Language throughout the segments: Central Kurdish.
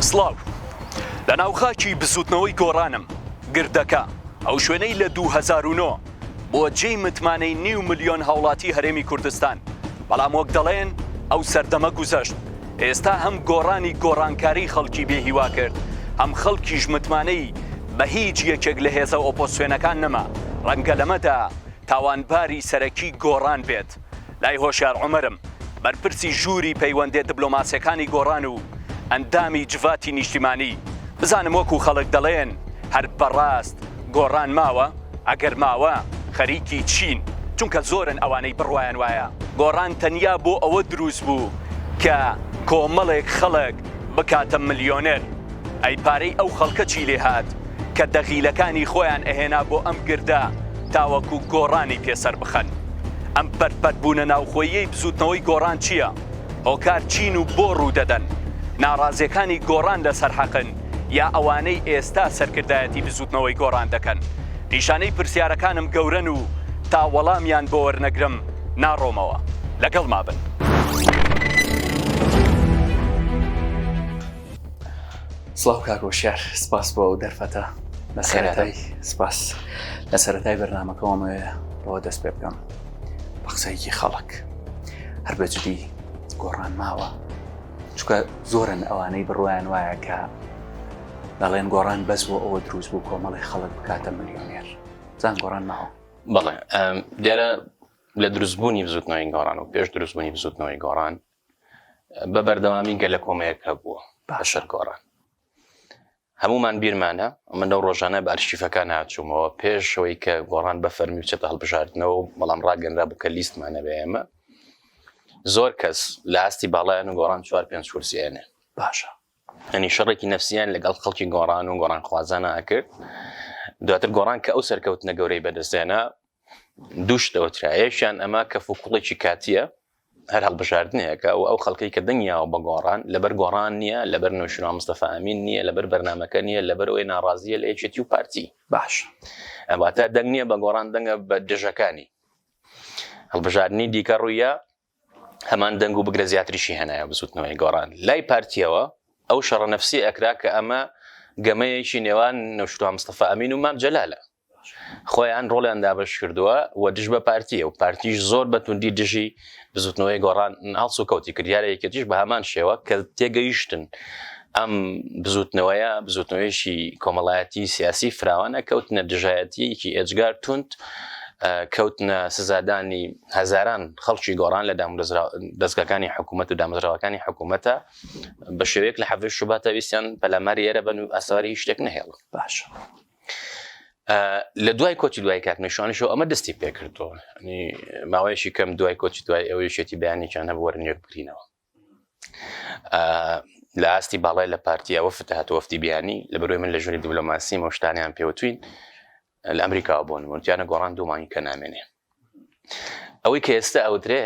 سڵاو لە ناوخاکی بزوتنەوەی گۆڕانم گردەکە ئەو شوێنەی لە 2009 بۆ جێی متمانەی نیو ملیۆن هاوڵاتی هەرێمی کوردستان بەڵام وەک دەڵێن ئەو سەردەمە گوزەشت ئێستا هەم گۆڕانی گۆڕانکاری خەڵکی بێ هیوا کرد، هەم خەڵکیش متمانەی بە هیچ یەکێک لە هێزە ئۆپۆزسیۆنەکان نەما، ڕەنگە لەمەدا تاوانباری سەرەکی گۆڕان بێت لای هۆشیار عومەرم، بەرپرسی ژووری پەیوەندێ دبلۆماسیەکانی گۆڕان و ئەندامی جڤاتی نیشتیمانی، بزانم وەکو خەڵک دەڵێن هەر بەڕاست. گۆڕان ماوە؟ ئەگەر ماوە خەریکی چین؟ چونکە زۆرن ئەوانەی بڕوایان وایە گۆڕان تەنیا بۆ ئەوە دروست بوو کە کۆمەڵێک خەڵک بکاتە ملیۆنێر. ئەی پارەی ئەو خەڵکە چی لێ هات کە دەغیلەکانی خۆیان ئەهێنا بۆ ئەم گردە تاوەکو گۆڕانی پێ سەر بخەن؟ ئەم پەرت پەرت بوونە ناوخۆییەی بزووتنەوەی گۆڕان چییە؟ هۆکار چین و بۆ ڕوو دەدەن؟ ناڕازیەکانی گۆڕان لەسەر حەقن؟ یا ئەوانەی ئێستا سەرکردایەتی بزوتنەوەی گۆڕان دەکەن نیشانەی پرسیارەکانم گەورەن و تا وەڵامیان بۆ وەرنەگرم ناڕۆمەوە لەگەڵ مابن. سڵاو کاک هۆشیار سپاس بۆ ئەو دەرفەتە لە سەرەتای سپاس لە سەرەتای بەرنمەکەمەوێ بەوە دەست پێ بکەم بە قسەیەکی خەڵک هەر بەجدی گۆڕان ماوە چونکە زۆرن ئەوانەی بڕوایان وایە کە دەڵێن گۆڕان بەس بۆ ئەوە دروست بوو کۆمەڵی خەڵک بکاتە ملیۆنێر زان گۆڕان ماوە بەڵێ دیارە لە دروستبوونی بزوتنەوەی گۆڕان و پێش دروستبوونی بزوتنەوەی گۆڕان بە بەردەوامی گەلە کۆمەیەک هەبووە باشەر گۆڕان هەموومان بیرمانە من لەو ڕۆژانە بە ئەرشیفەکان هاتوومەوە پێش ئەوەی کە گۆڕان بە فەرمی بچێتە هەڵبژاردنەوە و بەڵام ڕاگەنرابوو کە لیستمان نەبێ ئێمە زۆر کەس لە ئاستی باڵایان و گۆڕان چوار پێنج کورسی ئەنێ باشە ئەنی شەڕێکی نەفسیان لەگەڵ خەڵکی گۆڕان و گۆڕان خوازانە ئەکرد دواتر گۆڕان کە ئەو سەرکەوتنە گەورەی بەدەستێنا دووشت ئەوترایەشیان ئەما کە فوکوڵێکی کاتیە هەر هەڵبژاردنێکە و ئەو خەڵکەی کە دەنگی یاوە بە گۆڕان، لەبەر گۆڕان نییە، لەبەر نەوشیروان مستەفا ئەمین نییە، لەبەر بەرنامەکە نییە، لەبەر ئەوەی ناڕازییە لە یەکێتی و پارتی. باشە. واتە دەنگ نییە بە گۆڕان، دەنگە بە دژەکانی. هەڵبژاردنی دیکە ڕوویە هەمان دەنگ و بگرە زیاتریشی هێنایە بزوتنەوەی گۆڕان. لای پارتیەوە ئەو شەڕە نەفسی ئەکرا کە ئەمە گەمەیەکی نێوان نەوشیروان مستەفا ئەمین و مام جەلالە. خۆیان ڕۆڵیان دابەش کردووە و دژ بە پارتییە و پارتیش زۆر بە توندی دژی بزوتنەوەی گۆڕان هەڵسوکەوتی کرد، دیارە یەکێتیش بە هەمان شێوە کە تێگەیشتن ئەم بزوتنەوەیە بزوتنەوەیەکی کۆمەڵایەتی سیاسی فراوانە کەوتنە دژایەتییەکی ئێجگار توند کەوتنە سزادانی هەزاران خەڵکی گۆڕان لە دەستگاکانی حکوومەت و دامەزراوەکانی حکوومەتە بە شێوەیەک لە حەڤش شوباتەویستیان پەلاماری ئێرە بن و ئەسواری شتێک نهێڵن باش. لە دوای کۆچی دوای کاک نیشانشەوە ئەمە دەستی پێکردەوە ماوەیەشی کەم دوای کۆچی دوای ئەوەی شێتی بەیانێکیان هەبوو وەرنێک بکرینەوە لە ئاستی باڵای لە پارتی ئەوە فتهات وەفتی بیانی لە بەروی من لە ژووری دیبلۆماسی مەشتانیان پێوتوین لە ئەمریکاوە بۆن مرتیانە گۆڕان دوومانی کە نامێنێ ئەوەی کە ئێستا ئەودرێ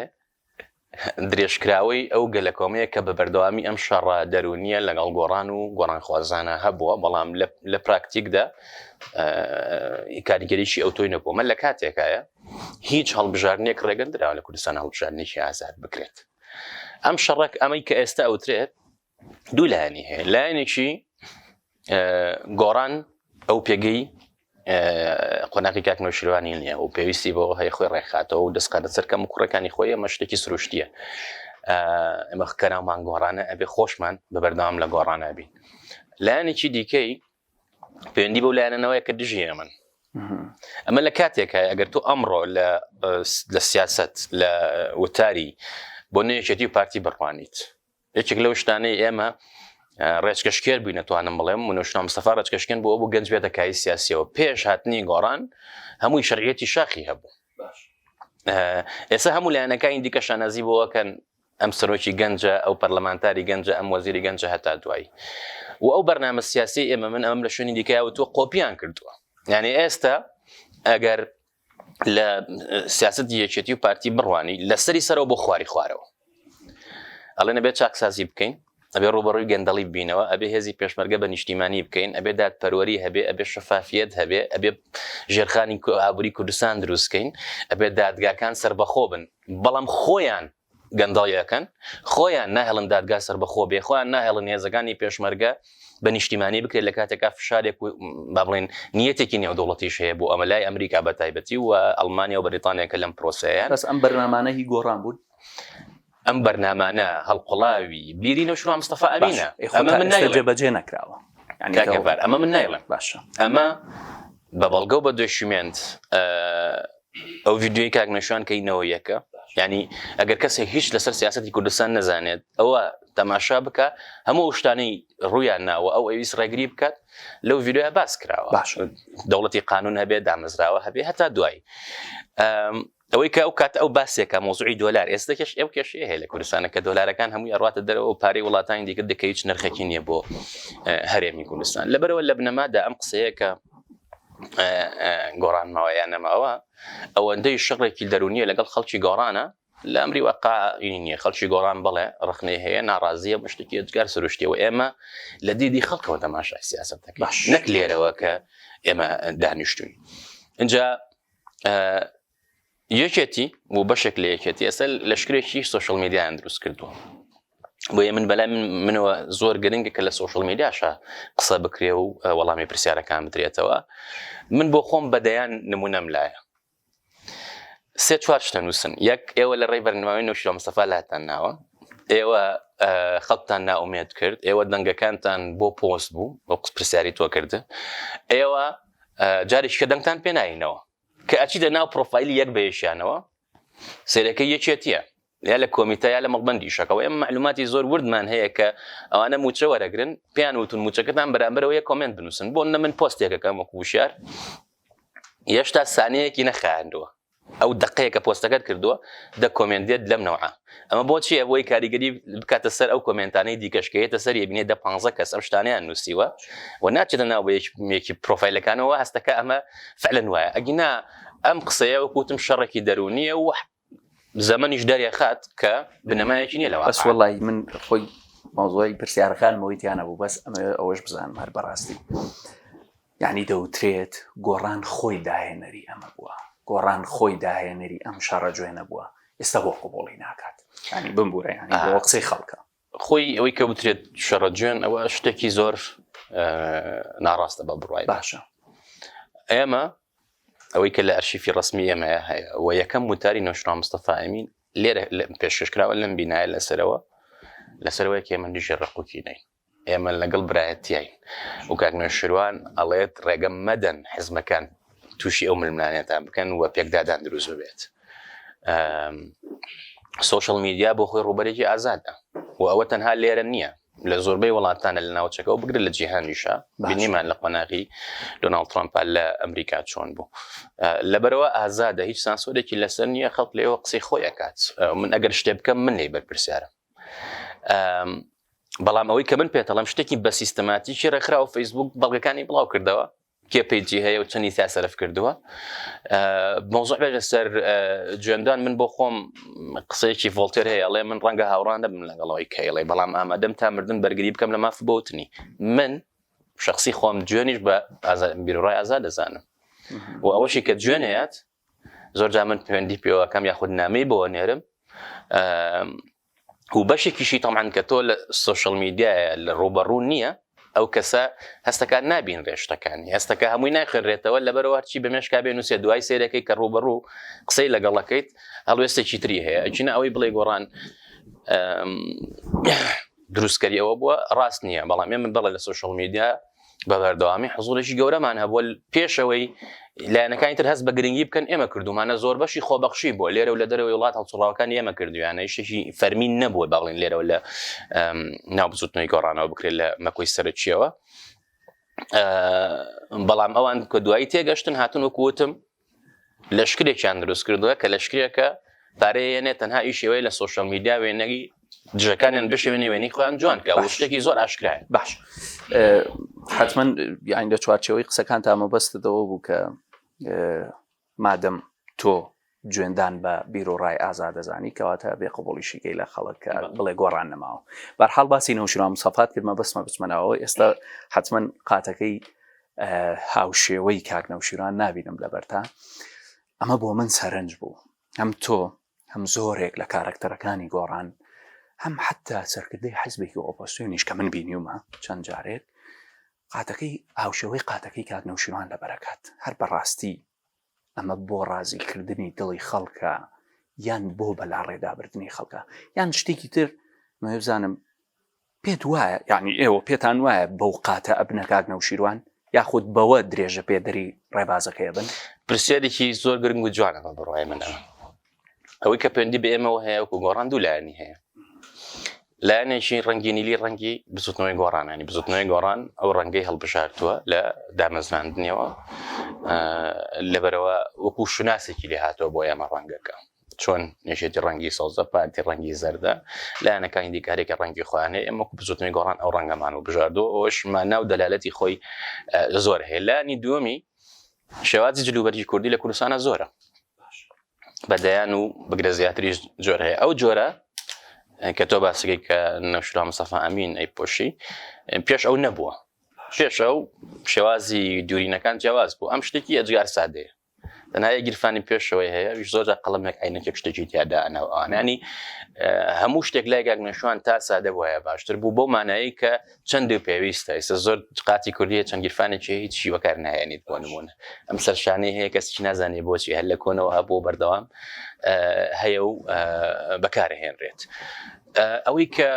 درێژکراوەی ئەو گەلەکۆمەیە کە بە بەردەوامی ئەم شەڕە دەروونییە لەگەڵ گۆڕان و گۆڕانخوازانە هەبووە، بەڵام لە پراکتیکدا کاریگەریی ئەوتۆی نەبووە لە کاتێکایە هیچ هەڵبژاردنێک ڕێگەندراوە لە کوردستان هەڵبژاردنێکی ئازاد بکرێت. ئەم شەڕەک ئەمەی کە ئێستا ئەوترێت دوو لایەنی هەیە لایەنێکی گۆڕان ئەو پێگەی قۆناقی کاک نەوشیروانی نییە و پێویستی بۆ هەیە خۆی ڕێکخاتەوە و دەستقاتە سەرکەم و کوڕەکانی خۆی ئەمە شتێکی سروشتیە ئەمە کەناومان گۆڕانە ئەبێ خۆشمان بە بەردەوام لە گۆڕانە بین لایەنێکی دیکەی پەیوەندی بەو لایەنەوەی کە دژی ئەمن ئەمە لە کاتێکە ئەگەر تۆ ئەمڕۆ لە سیاست لە وتاری بۆ نوێچێتی و پارتی بڕوانیت یەکێک لەو شتانەی ئێمە ڕێچکەشکێر بووی نەتوانم بڵێم منۆشنا مستەفا ڕێچکەشکێن بۆ بۆ گەنج بێتە کای سیاسیەوە پێش هاتنی گۆڕان هەمووی شەرعەتی شاخی هەبوو ئێستا هەموو لایەنەکانی دیکە شانازی بۆەکەن ئەم سەرۆکی گەنجە ئەو پەرلەمانتاری گەنجە ئەم وەزیری گەنجە هەتا دوایی و ئەو بەرنامە سیاسی ئێمە من ئەم لە شوێنی دیکە و تۆ قۆپیان کردووە یعنی ئێستا ئەگەر لە سیاست یەکێتی و پارتی بڕوانی لەسەری سەرەوە بۆ خواری خوارەوە ئەڵێ نەبێت چاکسازی بکەین ئەبێ ڕوبەڕووی گەندەڵی بینەوە ئەبێ هێزی پێشمەرگە بە نیشتیمانی بکەین ئەبێ داد پەروەری هەبێ ئەبێ شەفافیت هەبێ ئەبێ ژێرخانی ئابووری کوردستان دروستکەین ئەبێ دادگاکان سربەخۆ بن بەڵام خۆیان گەندەڵی ئەکەن خۆیان ناهێڵن دادگا سەربەخۆ بێ خۆیان ناهێڵن هێزەکانی پێشمەرگە بە نیشتیمانی بکرێت لە کاتێکا فشارێک و با بڵێن نیەتێکی نێودەوڵەتیش هەیە بۆ ئەمە لای ئەمریکا بە تایبەتی و ئەڵمانیا و بەریتانیا کە لەم پرۆسەیە بەس ئەم بەرنامانە هی گۆڕان بوون ئەم بەرنامانە هەڵقڵاوی بیری نەوشرا مستەفا ئەمینە ئەمە من نایڵێ جێبەجێ نەکراوە یعنی کاکە کاکەڤار ئەمە من نایڵێم باشە ئەمە بە بەڵگە و بە دۆشیمێنت ئەو ڤیددیوی کاک مێشوان کەی نەوە یەکە یعنی ئەگەر کەسێک هیچ لەسەر سیاستی کوردستان نەزانێت ئەوە تەماشا بکە هەموو شتانەی ڕویان ناوە ئەو ئەویس ڕێگری بکات لەو ڤیددیوە باس کراوە باش دەوڵەتی قانون هەبێت دامەزراوە هەبێ هەتا دوایی ئەوەی کە ئەو کات ئەو باسێکە مۆزوعی دۆلار ئێستەکەش ئەو کێشی هەیە لە کوردستانە کە دۆلارەکان هەمووی ئەڕاتە دەرەوە و پارەی وڵاتانی دیکە دەکە هیچ نرخێکی نییە بۆ هەرێمی کوردستان لەبەرەوە لە بنەمادا ئەم قسەیەکە گۆڕانمەوە یان نەماوە ئەوەندەی شەڕێکی دەرونیە لەگەڵ خەڵکی گۆڕانە لە ئەمری وەقا نیە خەڵکی گۆڕان بڵێ ڕخنێ هەیە ناڕازیە بەشتێکی ئەجگار سروشتیەوە ئێمە لە دیدی خەڵکەوە تەماشای سیاست دەکەش نەک لێرەوە کە ئێمە دانیشتوین اینجا یەکێتی بۆ بەشێک لە یەکێتی ئێستا لەشکرێکی سوۆشل میدیان دروست کردووە بۆیە من بەلای منەوە زۆر گرنگە کە لە سوۆشل میدیاشە قسە بکرێ و وەڵامی پرسیارەکان بدرێتەوە من بۆ خۆم بەدەیان نمونەم لایە سێ چوار شتە نووسن یەک ئێوە لە ڕێی بەرنماوی نوشیرە مستەفا لاتان ناوە ئێوە خەڵتان ناومێت کرد ئێوە دەنگەکانتان بۆ پۆست بوو بۆ قوت پرسیاری تۆ کردن ئێوە جارێککە دەنگتان پێناینەوە کە ئەچیتە ناو پرۆفایلی یەک بە یەکیانەوە سەیرەکەی یەکێتیە یا لە کۆمیتە یا لە مەڵبەندی شەکەوە ئێمە معلوماتی زۆر وردمان هەیە کە ئەوانە موچە وەرەگرن پێیان وتون موچەکەتان بەرامبەرەوە یە کۆمنت بنووسن بۆ نە من پۆستێکەکەم وەکو وشار یەشتا سانەیەکی نەخایاندووە ئەو دقەیە کە پۆستەکەت کردووە دە کۆمنت دێت لەم نەوە ئەمە بۆچیە بۆی کاریگەری بکاتە سەر ئەو کۆمنتانەی دیکەشکەیەتە سەر بینێ دە 15 کەس ئەم شتانیان نووسیوە و ناچێتە ناو بەیەکێکی پرۆفایلەکانەوە هەستەکە ئەمە فعلەن وایە ئەگینا ئەم قسەیە وەکوتم شەڕێکی دەرونیە و زەمەنیش دەرێخات کە بنەمایەکی نیە لەوە بەس وڵی من خۆی مۆزۆی پرسیارەکانمەوەی تیانە بوو بەس ئەمە ئەوەش بزانم هەر بەڕاستی. یەعنی دەوترێت گۆڕان خۆی داهێنەری ئەمە بووە، گۆڕان خۆی داهێنەری ئەم شەڕە جوێنە بووە، ئێستا بۆ قبوڵی ناکات؟ یەعنی بمبورە یەعنی بۆ قسەی خەڵکە. خۆی ئەوەی کە وترێت شەڕە جوێن ئەوە شتێکی زۆر ناڕاستە بە بڕوای من. باشە ئێمە ئەوەی کە لە ئەرشیفی ڕسمی ئێمەیە هەیە و یەکەم وتاری نۆشرا مستەفا ئەمین لێرە پێشکەشکراوە لەم بینایە لەسەرەوە لەسەرەوەی کێمە دژی ڕقوکی نین ئێمە لەگەڵ برایەتیین و کاک نەوشیروان ئەڵێت ڕێگە مەدەن حزبەکان تووشی ئەو ململانێتان بکەن و پێکدادان دروست ببێت. سوشل میدیا بۆ خۆی ڕوبەرێکی ئازادە و ئەوە تەنها لێرە نییە لە زۆربەی وڵاتانە لە ناوچەکەەوە بگرە لە جیهانیشە بینیمان لە قۆناغی دۆناڵ ترامپال لە ئەمریکا چۆن بوو لەبەرەوە ئازادە هیچ سانسۆرێکی لەسەر نییە خەڵک لێەوە قسەی خۆی ئەکات من ئەگەر شتێ بکەم من لی بەرپرسیارم بەڵام ئەوەی کە من پێتەڵم شتێکی بە سیستەماتیکی ڕێکخراوە فەیسبوک بەڵگەکانی بڵاو کردەوە کێ پێیجی هەیە و چەندی تا سەرف کردووە مۆزۆ بێژە سەر جوێندان من بۆ خۆم قسەیەکی ڤۆلتێر هەیە ئەڵێ من ڕەنگە هاوڕان دەبم لەگەڵەوەی کەیڵێ بەڵام ئامادەم تا مردن بەرگری بکەم لە ماف بۆتنی من شخصی خۆم جوێنیش بە بیرڕای ئازا دەزانم و ئەوەشی کە جوێنەیەت زۆر جا من پەیوەندی پێوەکەم یاخود نامی بۆ نێرم و بەشێکیشی تەمان کە تۆ لە سوۆشل میدیایە لە ڕوبەڕوو نییە ئەو کەسە هەستەکان نابین ڕێشتەکانی هەستەکە هەمووی ناخێنرێتەوە لەبەرەوە هەرچی بە مێشکا بێن نووسێ دوای سێرەکەی کە ڕوبەڕوو قسەی لەگەڵەکەیت هەڵوێستێکی تری هەیە ئەچینە ئەوەی بڵێ گۆڕان دروستکەری ئەوە بووە ڕاست نییە بەڵام ئێمە بڵێ لە سوۆشل میدیا بە بەردەوامی حزورێکی گەورەمان هەبووە پێشەوەی لایەنەکانی تر هەست بە گرنگی بکەن ئێمە کردومانە زۆر بەشی خۆبەخشی بۆ لێرە و لە دەرەوەی وڵات هەڵسوڕاوەکان ئێمە کردویانە یشتێکی فەرمین نەبووە باڵین لێرەوە لە ناو بزوتنەوەی گۆڕانەوە بکرێت لە مەکۆی سەرچیەوە بەڵام ئەوان کە دوایی تێگەشتن هاتن وەکوتم لەشکرێکیان دروست کردووە کە لەشکرێکە پارەیە یەنێ تەنها ئیشەوەی لە سوۆشەل میدیا وێنەگی دژەکانیان بشێوێنی وێنی خۆیان جوان کە شتێکی زۆر ئاشکرای باش حتمما یان لە چوارچەوەی قسەکان تا مەبەستەوە بوو کە مادەم تۆ جوێندان بە بیر و ڕای ئازا دەزانی کەواتە بێ قوبڵیشیکەی لە خەڵک بڵێ گۆڕان نەماوە بەرحاڵ باسی نەوشرا مسافات کرد مەبەستمە بچمەنەوە ئێستا حتمما قاتەکەی هاوشێوەی کاک نەوشیروان نابینم لە بەرتا ئەمە بۆ من سەرنج بوو هەم تۆ هەم زۆرێک لە کارەکتەرەکانی گۆڕان هەم حتا سەرکردەی حزبێکی ئۆپۆسیۆنیش کە من بینیومە چەند جارێک قاتەکەی هاوشێوەی قاتەکەی کاک نەوشیروان لە بەرەکات هەر بەڕاستی ئەمە بۆ ڕازیکردنی دڵی خەڵکە یان بۆ بەلاڕێدابردنی خەڵکە یان شتێکی تر مەوێ بزانم پێت وایە یعنی ئێوە پێتان وایە بەو قاتە ئەبنەکات نەوشیروان یاخود بەوە درێژە پێدەری ڕێبازەکەی بن پرسیارێکی زۆر گرنگ و جوانەمە بڕای منە ئەوەی کە پێندی بە ئێمەەوە هەیە وکو گۆڕان دوو لایەنی هەیە لایەنێکی ڕەنگی نیلی ڕەنگی بزوتنەوەی گۆڕانانی بزوتنەوەی گۆڕان ئەو ڕەنگەی هەڵبژارتووە لە دامەزراندنیەوە لەبەرەوە وەکو شوناسێکی لێ هاتەوە بۆ ئێمە ڕەنگەکە چۆن نێشێتی ڕەنگی سەوزە پارتی ڕەنگی زەردە لایەنەکانی دیکارێکە ڕەنگی خۆیانێ ئەمە بزوتنی گۆڕان ئەو ڕەنگەمان و بژاردەوە ئەوشما ناو دەلالەتی خۆی زۆر هەیە لانی دووەمی شێوازی جلوبەرگی کوردی لە کوردستانە زۆرە بە دەیان و بگرە زیاتریش جۆر هەیە ئەو جۆرە کە تۆ باسەکەی کە نەشرا مسەفا ئەمین ئەی پۆشی پێش ئەو نەبووە پێش ئەو شێوازی دوورینەکان جیاواز بوو ئەم شتێکی ئەجگار سادەیە دەنایە گیرفانی پێشەوەی هەیە زۆر قەڵمێک ئاینەکێک شتێکی تیادا ئەناوانانی هەموو شتێک لای گاگنەشوان تا سادە وایە باشتر بوو بۆ مانایی کە چەند و پێویستە ئێستا زۆر قاتی کوردیە چەند گیرفانێکی هەیە هیچی وەکار نایێنیت بۆ نمونە ئەم سەرشانەی هەیە کەسیی نازانێ بۆچی هەر لە کۆنەوە هەبوو بەردەوام هەیە و بەکارهێنرێت ئەوەی کە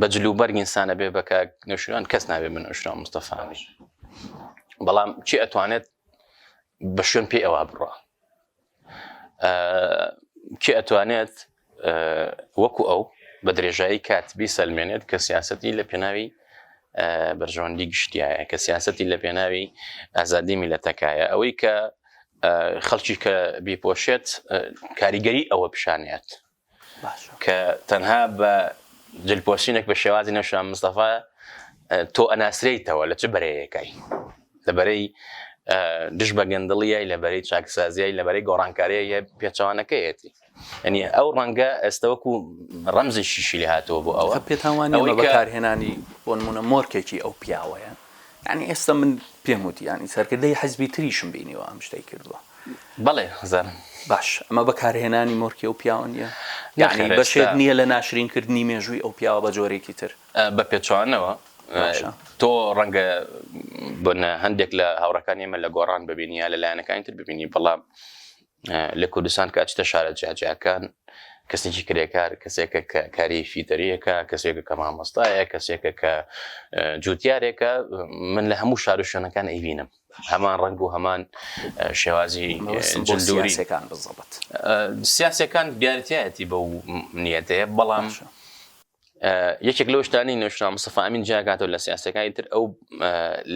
بە جلو بەرگ ئینسانە بێ بەکە نوشران کەس نابێ من نوشران مستەفاوی بەڵام چی ئەتوانێت بە شوێن پێ ئەوە بڕە کێ ئەتوانێت وەکو ئەو بە درێژایی کات بیسەلمێنێت کە سیاستی لە پێناوی بەرژەوەندی گشتیایە کە سیاستی لە پێناوی ئازادی میلەتەکایە ئەوەی کە خەڵکی کە بیپۆشێت کاریگەری ئەوە پیشانێت کە تەنها بە جل پۆشینێک بە شێوازی نەوشین مام مستەفا تۆ ئەناسرێیتەوە لە چ بەرەیەکای لە بەرەی دژ بە گەندڵیای لە بەرەی چاکسازیای لە بەرەی گۆڕانکاریە پێچەوانەکەیەتی ئەنی ئەو ڕەنگە ئێستەوەکو ڕەمزی شیشی لێ هاتەوە بۆ ئەوە پێتاوانەوەی بەکارهێنانی بۆنمونە مۆرکێکی ئەو پیاوەیە یانی ئێستا من پێم وتی یانی سەرکردەی حزبی تریشم بینیوە ئەم شتەی کردووە بەڵێ هەزار باش ئەمە بەکارهێنانی مۆرکی ئەو پیاوە نیە یعنی بەشێت نییە لە ناشرینکردنی مێژووی ئەو پیاوە بە جۆرێکی تر بە پێچوانەوە تۆ ڕەنگە بۆ هەندێک لە هاوڕەکانی ئمە لە گۆڕان ببینی یا لە لایەنەکانی تر ببینی بەڵام لە کوردستان کە ئەچیتە شارە جیاجیاکان، کەسێکی کرێکار، کەسێکە کە کاری فیتەرییەکە، کەسێکە کە مامۆستایە، کەسێکە کە جووتیارێکە، من لە هەموو شار و شوێنەکان ئەیبینم، هەمان ڕەنگ و هەمان شێوازی جلدوری. سیاسییەکان دیارتیایەتی بەو نیەتەیە، بەڵام یەکێک لەو شتانەی نوێژراو مستەفا ئەمین جیا کاتەوە لە سیاسییەکانی تر، ئەو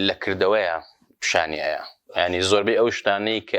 لە کردەوەیە پیشانی ئەیا، یانی زۆربەی ئەو شتانەی کە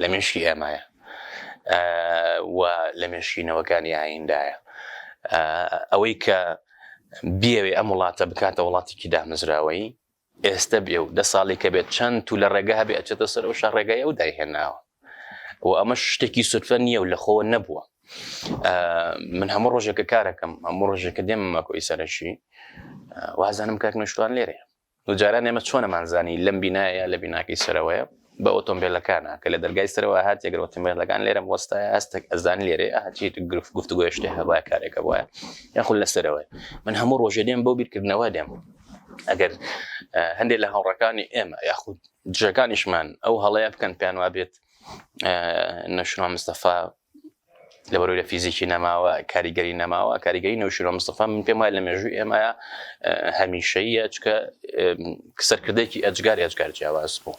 لە مێشکی ئێمەیە و لە مێشکی نەوەکانی ئایندایە. ئەوەی کە بیەوێ ئەم وڵاتە بکاتە وڵاتێکی دامەزراوەیی، ئێستە بێ و دە ساڵێکە بێت چەند تو لە ڕێگە هەبێ ئەچێتە سەر ئەو شە ڕێگای ئەو دایهێناوە و ئەمە شتێکی سوتفە نییە و لە خۆ نەبووە. من هەموو ڕۆژێکە کارەکەم هەموو ڕۆژێکە دێمە ماکۆی سەرەکی وازانم کاک نوشتوان لێرەیە. و جاران ئێمە چۆن ئەمانزانی لەم بینایە لە بیناکەی سەرەوەیە بە ئۆتۆمبێلەکانە کە لە دەرگای سەرەوە هات یەگەر ئۆتۆمبێلەکان لێرەم وەستایە هەستێک ئەزانی لێرەیە ئەها چی گرفت گفتوگۆی شتێ هەبایە کارێکە بۆیە یاخود لە سەرەوەی من هەموو ڕۆژێ دێم بۆ بیرکردنەوە دێم ئەگەر هەندێک لە هاوڕەکانی ئێمە یاخود دژەکانیشمان ئەو هەڵەیە بکەن پێیان وا بێت نەشنوان مستەفا لەبەرو لە فیزیکی نەماوە کاریگەری نەماوە کاریگەری نەوشیرۆ مستەفا من پێم وایە لە مێژووی ئێمەیە هەمیشەیە چکە سەرکردێکی ئەجگار ئەجگار جیاواز بوو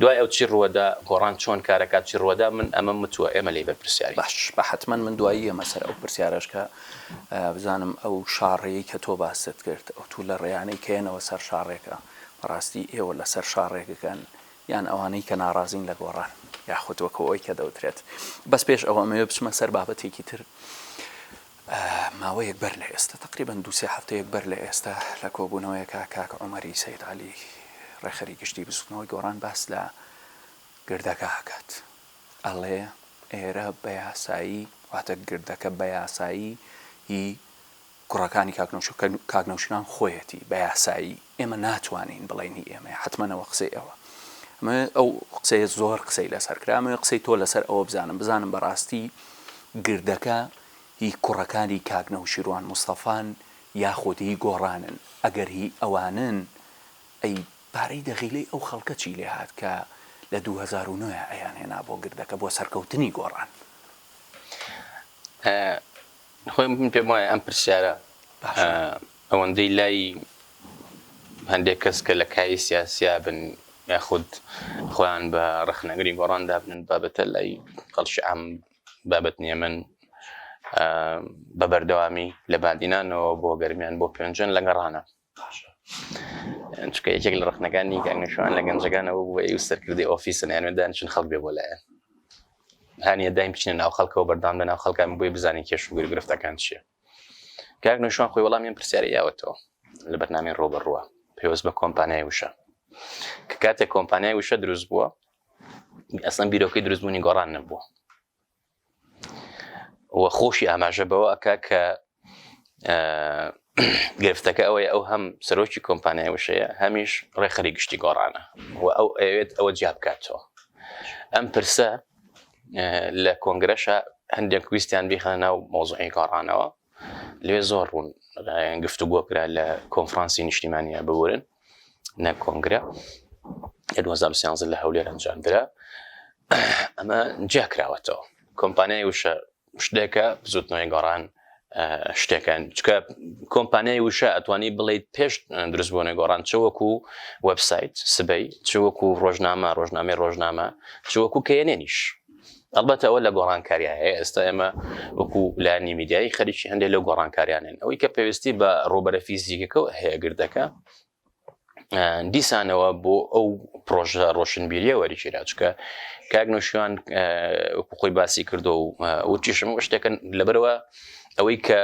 دوای ئەو چی ڕوەدا گۆڕان چۆن کارەکات چی ڕوەدا من ئەمە متووە ئێمە لی بەرپرسیاری باش بە حتمما من دوایی ئەمە سەر ئەو پرسیارەشکە بزانم ئەو شاڕەیە کە تۆ باست کرد ئەو تو لە ڕێیانەی کێنەوە سەر شاڕێکە بەڕاستی ئێوە لەسەر شاڕێکەکەن یان ئەوانەی کە ناڕازین لە گۆڕان یاخود وەکو ئەوەی کە دەوترێت بەس پێش ئەوە ئەمەوێ بچمە سەر بابەتێکی تر ماوەیەک بەر لە ئێستا تقریبان دو سێ هەفتەیەک بەر لە ئێستا لە کۆبوونەوەیەکە کاک عمەری سید علی ڕێخەری گشتی بزوتنەوەی گۆڕان باس لە گردەکە ئەکات ئەڵێ ئێرە بە یاسایی واتە گردەکە بە یاسایی هی کوڕەکانی کاک نەوشو کە کاک نەوشیروان خۆیەتی بە یاسایی ئێمە ناتوانین بڵێین هی ئێمەیە حەتمەن ئەوە قسەی ئەوە ئەمەوێ ئەو قسەیە زۆر قسەی لەسەر کرا ئەمەوێ قسەی تۆ لەسەر ئەوە بزانم بزانم بەڕاستی گردەکە هی کوڕەکانی کاک نەوشیروان مستەفان یاخود هی گۆڕانن ئەگەر هی ئەوانن ئەی پارەی دەغیلەی ئەو خەڵکە چی لێ هات کە لە دوو هەزار و نۆ ئەیان هێنا بۆ گردەکە بۆ سەرکەوتنی گۆڕان؟ خۆی من پێم وایە ئەم پرسیارە ئەوەندەی لای هەندێک کەس کە لە کایی سیاسیا بن یاخود خۆیان بە ڕخنەگری گۆڕان دابنن بابەتە لای خەڵکی ئام بابەت نیە من بە بەردەوامی لە بادینانەوە بۆ گەرمیان بۆ پێنجن لە گەڕانە چونکە یەکێک لە ڕخنەکانی گەنگەشوان لە گەنجەکان ئەوە بووە ئەو سەرکردی ئۆفیسن یانێ دانیشن خەڵک بێ بۆ لایەن هەنیە دایم بچینە ناو خەڵکەوە بەردان لە ناو خەڵکان بۆی بزانین کێش و گرگرفتەکان چیە کاک نوشوان خۆی وەڵامیان پرسیاری یاوەتەوە لە بەرنامی ڕۆبە ڕووە پێوەست بە کۆمپانیای وشە کە کاتێک کۆمپانیای وشە دروست بووە ئەسم بیرۆکەی دروستبوونی گۆڕان نەبووە و خۆشی ئاماژە بەوە ئەکا کە گرفتەکە ئەوەی ئەو هەم سەرۆکی کۆمپانیای وشەیە هەمیش ڕێخەری گشتی گۆڕانە و ئەو ئەوێت ئەوە جیا بکاتەوە ئەم پرسە لە کۆنگرەشە هەندێک ویستیان بیخە ناو مۆزعی گۆڕانەوە لێ زۆر ڕوون گفتوگۆکرا لە کۆنفرانسی نیشتیمانیا ببورن نە کۆنگرە لە 2013 لە هەولێر ئەنجامدرا ئەمە جیا کراوەتەوە کۆمپانیای وشە شتێکە بزوتنەوەی گۆڕان شتەکان چکە کۆمپانیای وشە ئەتوانی بڵیت پێش دروست بۆنە گۆڕان چوەکو وبسایت سبەی چوەکو ڕۆژنامە ڕۆژنامەی ڕۆژنامە چوەکو کەێنێنیش ئەڵبەتە ئەوە لە گۆڕانکاریە ئێستا ئێمە وەکو لانی میدیایی خەریکی هەندێک لە گۆڕانکاریانن ئەوەی کە پێویستی بە ڕوبەرە فیزیکەکە و هەیەگردەکە دیسانەوە بۆ ئەو پرۆژە ڕۆشنبیریە وەریکیراچکە کاک نوشیوان خۆی باسی کردو و وتیشم شتێکن لەبەرەوە ئەوەی کە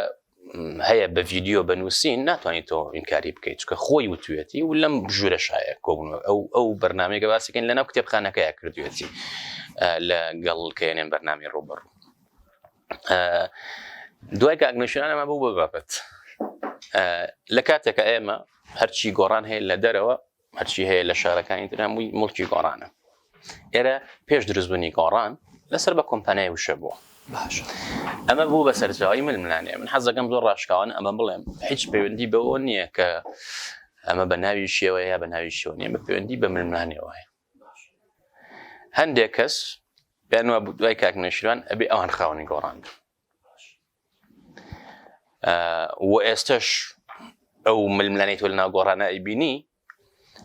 هەیە بە ڤیددیو بە نووسین ناتوانانی تۆ ئینکاری بکەیت چکە خۆی وتوێتی و لەم ژورە شایە کۆبوون ئەو ئەو بەرنمەیەگە باسیکەن لەناو کتێبخانەکەی کردوێتی لە گەڵ کەێنێن بەرنامی ڕوبڕ دوای کاگنشانەمە بوو بە بابەت لە کاتێکە ئێمە هەرچی گۆڕان هەیە لە دەرەوە هەرچی هەیە لە شارەکانی تر هەمووی مڵکی گۆڕانە ئێرە پێش دروستبوونی گۆڕان لەسەر بە کۆمپانای وشە بووە باش ئەمە بوو بە سەرچاوی ململانێ من حەزەکەم زۆر ڕاشکاوان ئەمە بڵێم هیچ پەیوەندی بەوە نییە کە ئەمە بە ناوی شێوە یا بە ناوی شێوە نیە بە پەیوەندی بە ململانێەوە هەیە هەندێک کەس پێیان وا دوای کاک نەشیروان ئەبێ ئەوان خاوەنی گۆڕان وە ئێستش ئەو ململانەی تۆ لەناو گۆڕانە ئەیبینی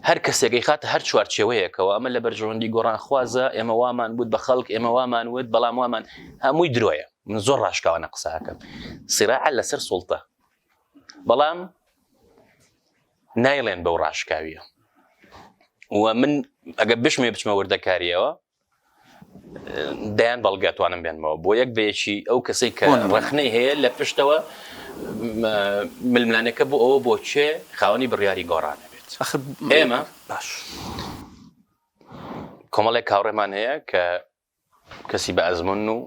هەر کەسێکی خاتە هەر چوارچێوەیەکەوە ئەمە لە بەرژەوەندی گۆڕان خوازە ئێمە وامان وت بە خەڵک ئێمە وامان وت بەڵام وامان هەمووی درۆیە من زۆر ڕاشکاوانە قساکەم سراع لەسەر سوڵتە بەڵام نایڵێن بەو ڕاشکاویە و من ئەگە بشمێ بچمە وردەکاریەوە دەیان بەڵگە توانم بێنمەوە بۆ یەک بەیەکی ئەو کەسی کە ڕخنەی هەیە لە پشتەوە ململانەکە بۆ ئەوە بۆ چێ خاوەنی بڕیاری گۆڕانە بێت ئێمە باش کۆمەڵێک کاڕێمان هەیە کە کەسی بە ئەزمون و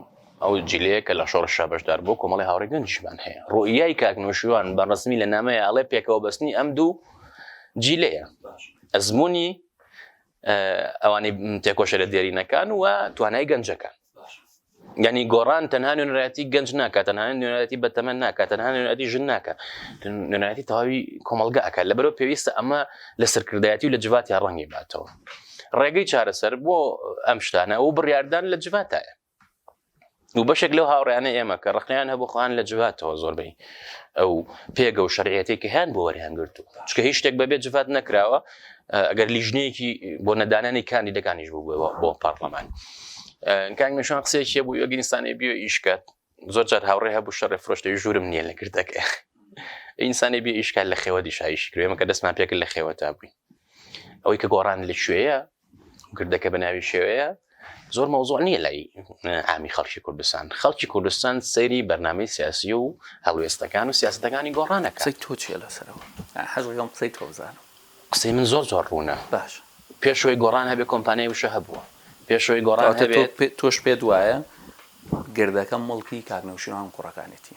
ئەو جلەیە کە لە شۆڕ شابشدار بۆ کۆمەڵی هاوڕێ گەنجمان هەیە ڕوئیای کاکنۆشیوان بە ڕسمی لە نامەیە ئەڵێ پێکەوە بەستنی ئەم دوو جیلەیە ئەزمموی ئەوانەی تێکۆشە لە دێرینەکان و توانای گەنجەکان گەنی گۆڕان تەنها نوێنەتی گەنج ناکە تەنها نوێنەتی بەتەمە ناکە تەنها نوێنەتی ژن ناکە نوێنەتی تەواوی کۆمەلگا ئەکە لە بەرەو پێویستە ئەمە لە سەرکردایەتی و لە جوات یا ڕەنگی باتەوە ڕێگەی چارەسەر بۆ ئەم شتانە و بڕاردان لە جواتایە و بەشێک لەو هاوڕیانە ئێمە کە ڕقیان هەبوو خۆیان لە جواتەوە زۆربەی ئەو پێگە و شەرعەتی کە هەیان بۆ وەریان گرتو چکە هیچ شتێک بەبێ جوات نەکراوە ئەگەر لیژنەیەکی بۆ نەدانانی کاندی دەکانیش بوو بۆ پارلەمان کاک مشان قسێکیە بوو یۆگینستانی بیۆ ئیشکات زۆر جار هاوڕێ هەبوو شەڕێ فرۆشتی ژورم نییە لە کردەکە ئینسانی بێ ئیشکال لە خێوەتی شایشی کرێمە کە دەستمان پێکرد لە خێوەتا بووین ئەوەی کە گۆڕان لە شوێیە گردەکە بەناوی شێوەیە زۆر مەوزوع نییە لای ئامی خەڵکی کوردستان خەڵکی کوردستان سەیری بەرنمەی سیاسی و هەڵوێستەکان و سیاستەکانی گۆڕانەکە قسەی تۆ چیە لەسەرەوە حەزەکەم قسەی تۆ بزانم قسەی من زۆر زۆر ڕوونە باش پێشەوەی گۆڕان هەبێ کۆمپانیای وشە هەبووە پێشەوەی گۆڕان تۆش پێت وایە گردەکە مڵکی کاک نەوشیروان و کوڕەکانێتی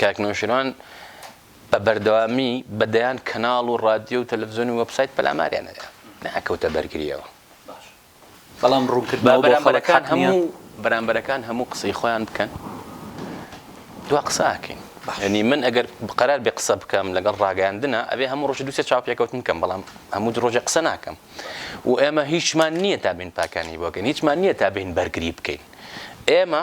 کاک نەوشیروان بە بەردەوامی بە دەیان کەناڵ و ڕادیۆ و تەلەڤزیۆن و وەبسایت پەلاماریان دەدا نەئەکەوتە بەرگریەوە بەڵام ڕوونکردنەوە بۆ خەڵک بەرامبەرەکان حەق نییە. هەموو بەرامبەرەکان هەموو قسەی خۆیان بکەن دوا قسە ئاکەین باشە. یەنی من ئەگەر قەرار بێ قسە بکەم لەگەڵ ڕاگەیاندنە ئەبێ هەموو ڕۆژی دوو سێ چاوپێکەوتن بکەم بەڵام هەموو دو ڕۆژێ قسە ناکەم و ئێمە هیچمان نییە تا بین پاکانی بۆکەین هیچمان نییە تا بین بەرگری بکەین ئێمە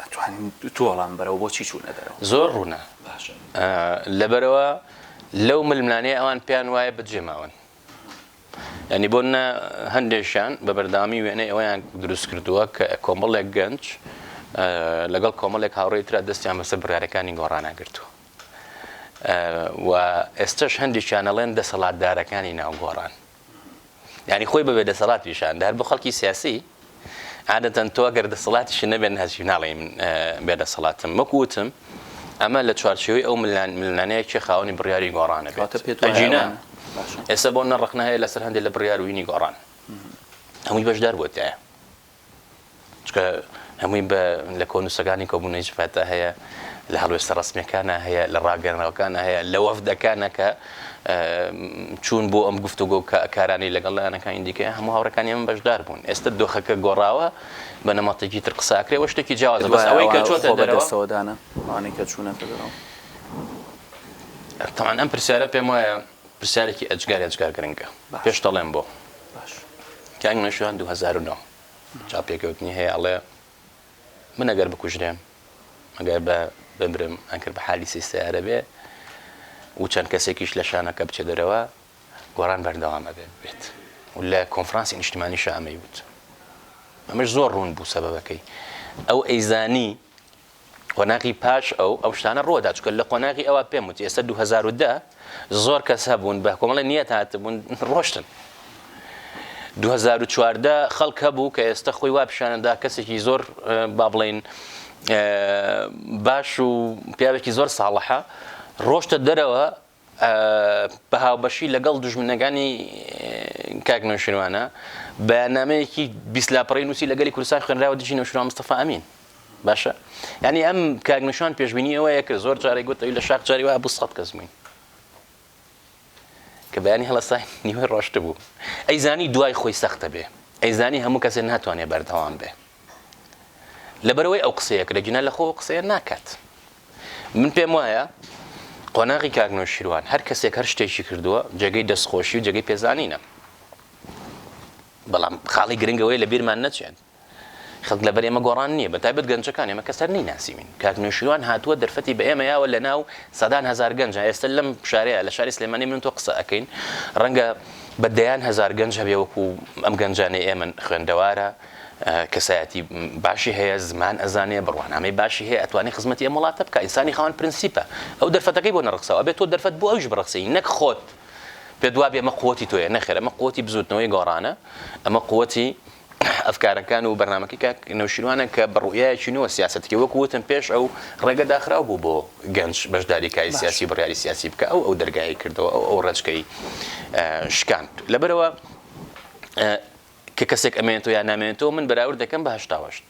ئەتوانین دوو وەڵام بەرەوە بۆچی چوونە دەرەوە زۆر ڕوونە لەبەرەوە لەو ململانەیە ئەوان پێیان وایە بەجێ ماون ینی بۆ نە هەندێکشان بە بەردامی وێنەی ئەویان دروست کردووە کە کۆمەڵێک گەنج لەگەڵ کۆمەڵێک هاوڕێی تررا دەستیان بەسەر برارەکانی گۆڕاناگرتووە و ئێستش هەندێکیانەڵێن دەسەڵاتدارەکانی ناوگۆڕان یانی خۆی بە بێ دەسەڵات پیشان دەهات بۆ خەڵکی سیاسی عادەتەن تۆ گەر دەسەڵاتیش نەبێن هەچی ناڵێ من بێ دەسەڵاتم وەک وتم ئەمە لە چوارچەوەی ئەو ملان ملانەیە چێ خاوەنی بڕیاری گۆڕانە پێتجینا ئێستا بۆ نەڕخنا هەیە لەسەر هەندێک لە بڕیاروینی گۆڕان هەمووی بەشدار بۆتە چونکە هەمووی بە لە کۆن نووسەکانی کۆبوونەوەی جڤاتا هەیە لە هەڵوێستە ڕسمیەکانە هەیە لە ڕاگەرنەوەکانە هەیە لە وەفدەکانە کە چوون بۆ ئەم گفتوگۆ کە کارانی لەگەڵ لایەنەکانی دیکە هەموو هاوڕەکانی ئەم بەشدار بوون ئێستا دۆخەکە گۆڕاوە بە نەمەتێکی تر قساکرێەوە شتێکی جیاواز بەس ئەوەی کە چۆتە دەرەوەدانە ئەوانەی کە چوونەتە دەرەوە تاوان ئەم پرسیارە پێم وایە پرسیارێکی ئەجگار ئەجگار گرنگە پێش دەڵێم بۆ کاک نەشوان 2009 چاپێکەوتنی هەیە ئەڵێ من ئەگەر بکوژرێم ئەگەر بە بمرم ئەکرد بە حالی سی سیارە بێ و چەند کەسێکیش لە شانەکە بچێ دەرەوە گۆڕان بەردەوامە بێت بێت و لە کۆنفرانسی نیشتمانی شامەی وت ئەمەش زۆر ڕوون بوو سەبەکەی ئەو ئەیزانی قۆناغی پاش ئەو ئەم شتانە ڕووەدا چکە لە قۆناغی ئەوە پێم وتی ئێستا 2010 زۆر کەس هەبوون بە کۆمەڵی نیەت هاتبوون ڕۆشتن 2014 خەڵک هەبوو کە ئێستا خۆی وا پیشانەدا کەسێکی زۆر با بڵین باش و پیاوێکی زۆر ساڵحە ڕۆشتە دەرەوە بە هاوبەشی لەگەڵ دوژمنەکانی کاک نەوشیروانە بەیاننامەیەکی بیست لاپەڕەی نووسی لە گەلی کوردستان خوێنراوە دژی نەوشیروان مستەفا ئەمین باشە یعنی ئەم کاک نەوشیروان پێشبینی ئەوەیە کە زۆر جارێک گوت ئەوی لە شاخ جاری وایە بۆ سەد کەس بووین کە بەیانی هەڵەسای نیوەی ڕۆشت بوو ئەیزانی دوای خۆی سەختە بێ ئەیزانی هەموو کەسێ ناتوانێ بەردەوام بێ لەبەرئەوەی ئەو قسەیە کرد ئەگینا لەخۆ ئەو قسەیە ناکات من پێم وایە قۆناغی کاک نەوشیروان هەر کەسێک هەر شتێکی کردووە جێگەی دەستخۆشی و جێگەی پێزانینە بەڵام خاڵی گرنگەوەی لە بیرمان نەچێت خەڵک لەبەر ئێمە گۆڕان نییە بە تایبەت گەنجەکان ئێمە کەسەر نی ناسیمین کاک نوێشیوان هاتووە دەرفەتی بە ئێمە یاوە لە ناو سەدان هزار گەنج ئێستا لەم شارەیە لە شاری سلێمانی من تۆ قسە ئەەکەین ڕەنگە بە دەیان هزار گەنج هەبێ وەکو ئەم گەنجانەی ئێمە خوێندەوارە کەسایەتی باشی هەیە زمان ئەزانێ بڕوانامەی باشی هەیە ئەتوانێ خزمەتی ئەم وڵاتە بکە ئینسانی خاوەن پرنسیپە ئەو دەرفەتەکەی بۆ نەڕخساوە ئەبێ تۆ دەرفەت بۆ ئەویش بڕەخسێی نەک خۆت پێت وابێ ئەمە قوتی تۆیە نەخێر ئەمە قوتی بزوتنەوەی گۆڕانە ئەمە قوتی ئەفکارەکان و بەرنمەکەی کاک نەوشیروانە کە بڕویایەکی نووە سیاستەکە وەکو وتم پێش ئەو ڕێگە داخراو بوو بۆ گەنج بەشداری کاری سیاسی بڕیاری سیاسی بکە ئەو ئەو دەرگایی کردەوە ئەو ئەو ڕێچکەی شکاند لەبەرەوە کە کەسێک ئەمێنێتەوە یان نامێنێتەوە من بەراورد دەکەم بە هەشتا و هەشت